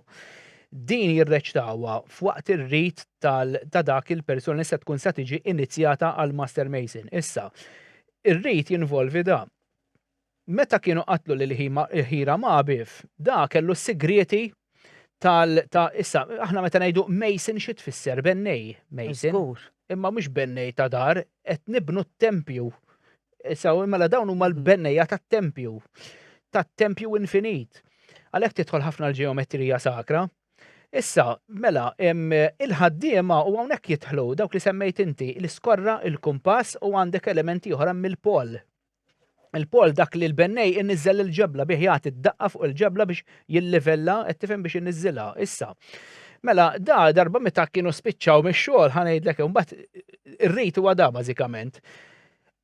din jirreċtawha f'waqt ir-rit ta' dak il-persuna li se tkun se tiġi inizjata għal Master Mason. Issa, ir-rit jinvolvi da. Meta kienu qatlu lil Hiram Abiff, da kellu s-sigrieti tal ta' issa, aħna meta ngħidu Mason xi tfisser bennej Mason. Żgur. Imma mhux bennej ta' dar, qed nibnu t-tempju. Issa mela dawn huma l-bennejja tat-tempju, tat-tempju infinit. Għalhekk tidħol ħafna l-ġeometrija sakra. Issa, mela, em, il-ħaddiema u hawnhekk jidħlu dawk li semmejt inti, l-iskorra, il-kumpass u għandek elementi oħra mill-pol. il-pol dak li l-bennej inniżżel il-ġebla bih jagħti d-daqqa fuq il-ġebla biex jillivella, qed tifhem biex inniżżilha. Issa, mela da darba meta kienu spiċċaw mix-xogħol ħa ngħidlek imbagħad ir-rit huwa da bażikament.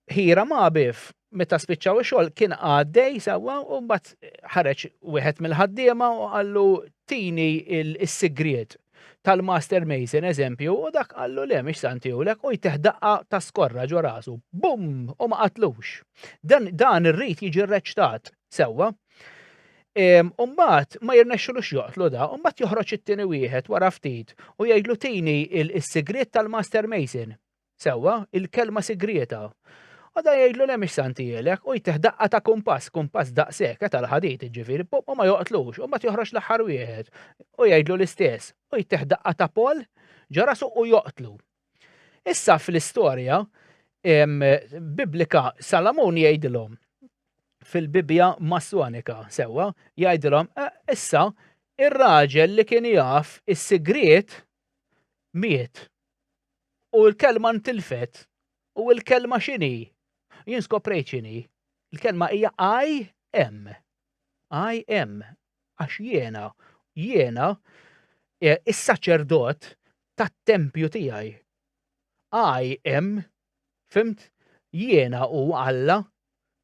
Ħira ma' bif meta spiċċaw ix-xogħol kien għaddej sewwa u mbagħad ħareġ wieħed mill-ħaddiema u qallu tini s-sigriet tal-master mason eżempju u dak qallu le mhix santihulek u jteħ daqqa ta' skorra ġo rasu. Bum! U ma qatlux. Dan, dan irrid jiġi rreċtat sewwa. Umbagħad ma jirnexxilux joqtlu da, umbagħad joħroġ it-tieni wieħed wara ftit u jgħidlu tini il-sigriet tal-master mason. Sewwa, il-kelma sigrieta. Għada jgħidlu le mhix Santi Elek u jtih daqqa ta' kumpass, kumpass daqshekk, eh, tal-ħadid, jiġifieri, pop, u ma joqtlux, u mbagħad joħroġ l-aħħar wieħed u jgħidlu l-istess, u jtih daqqa ta' pol ġo rasu u joqtlu. Issa fl-istorja biblika Salamun jgħidilhom fil-Bibja Massonika sewwa jgħidilhom eh, issa ir-raġel li kien jaf is-sigriet miet. U l-kelma ntilfet. U l-kelma xini. Jien skoprejt xini. Il-kelma hija I am. I am. Għax jiena, jiena, e, is-saċerdot tat-tempju tiegħi. I am, fimt, jiena u Alla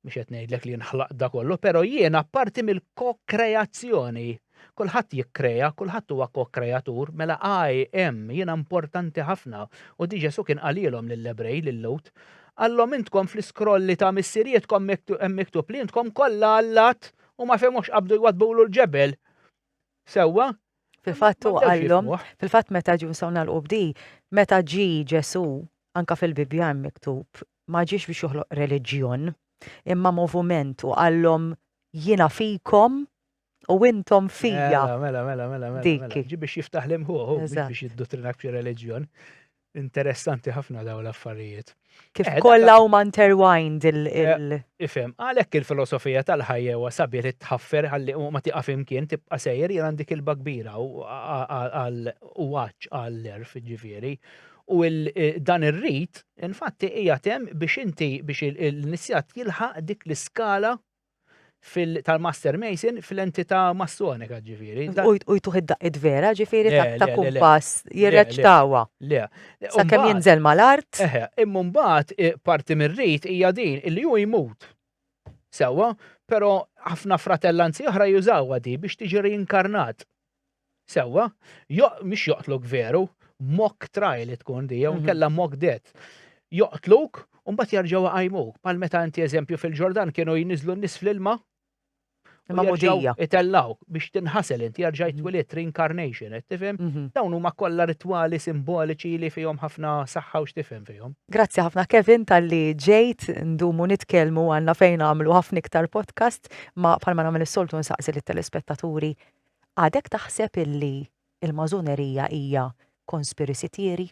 Mhux qed ngħidlek li nħlaq da kollu, però jiena parti mill-kokreazzjoni. Kulħadd jikkrea, kulħadd huwa kokreatur, mela I am, jiena importanti ħafna. U di Ġesù kien qalilhom lill-Ebrej, lil Lut, Għallhom intkom fl-iskrolli ta' missirietkom hemm miktub li intkom kollha allat u ma femux qabdu jwadbulu l-ġebel. Sewwa? Fil-fatt u għallhom, fil-fatt meta ġu nsaw nagħlqu bdi, meta ġi Ġesù anka fil-Bibbja hemm miktub ma ġiex biex joħloq reliġjon, imma movument u qallhom jiena fikom u intom fija. Mela, mela, mela, mela. Dik. Mela. Ġi biex jiftaħ l-imħuħu, biex jidduttrinak f'xi reliġjon. Interessanti ħafna daw l-affarijiet. Kif eh, kollha huma interwined il. Eh, ifhem, għalhekk il-filosofija tal-ħajja huwa sabiet li tħaffer ħalli ma tiqaf imkien tibqa' sejjer jien għandi kilba kbira u għaċ għall-erf ġifieri U dan ir-rit, infatti, qiegħed hemm biex inti biex l-inizjat jilħaq dik l-iskala tal-Master Mason fl-entità massonika ġifieri. U jtuħ id-daqqiet vera ġifieri ta' kumpass jirreċtawha. Le. Sakemm jinżel mal-art. Eħe, imma mbagħad parti mir-rit hija din li hu jmut. Sewwa, però ħafna fratellanzi oħra jużawha di biex tiġi reinkarnat. Sewwa, mhux joqtluk veru, mock trial li tkun di, jew mhm. kella mock death. Joqtluk, u mbagħad jarġgħu għajmuk. Pal meta inti eżempju fil-Ġordan kienu jniżlu n-nies fl-ilma. Ma mudija. Itellaw biex tinħasel inti jarġa' mhm. jitwiliet reincarnation, qed tifhem? Mhm. Dawn huma kollha ritwali simboliċi li fihom ħafna saħħa u x'tifhem fihom. Grazzi ħafna Kevin tal-li ġejt ndumu nitkellmu għandna fejn għamlu ħafna iktar podcast ma bħalma nagħmel is-soltu nsaqsi lit-telespettaturi Għadek taħseb illi il-Mażonerija hija conspiracy theory?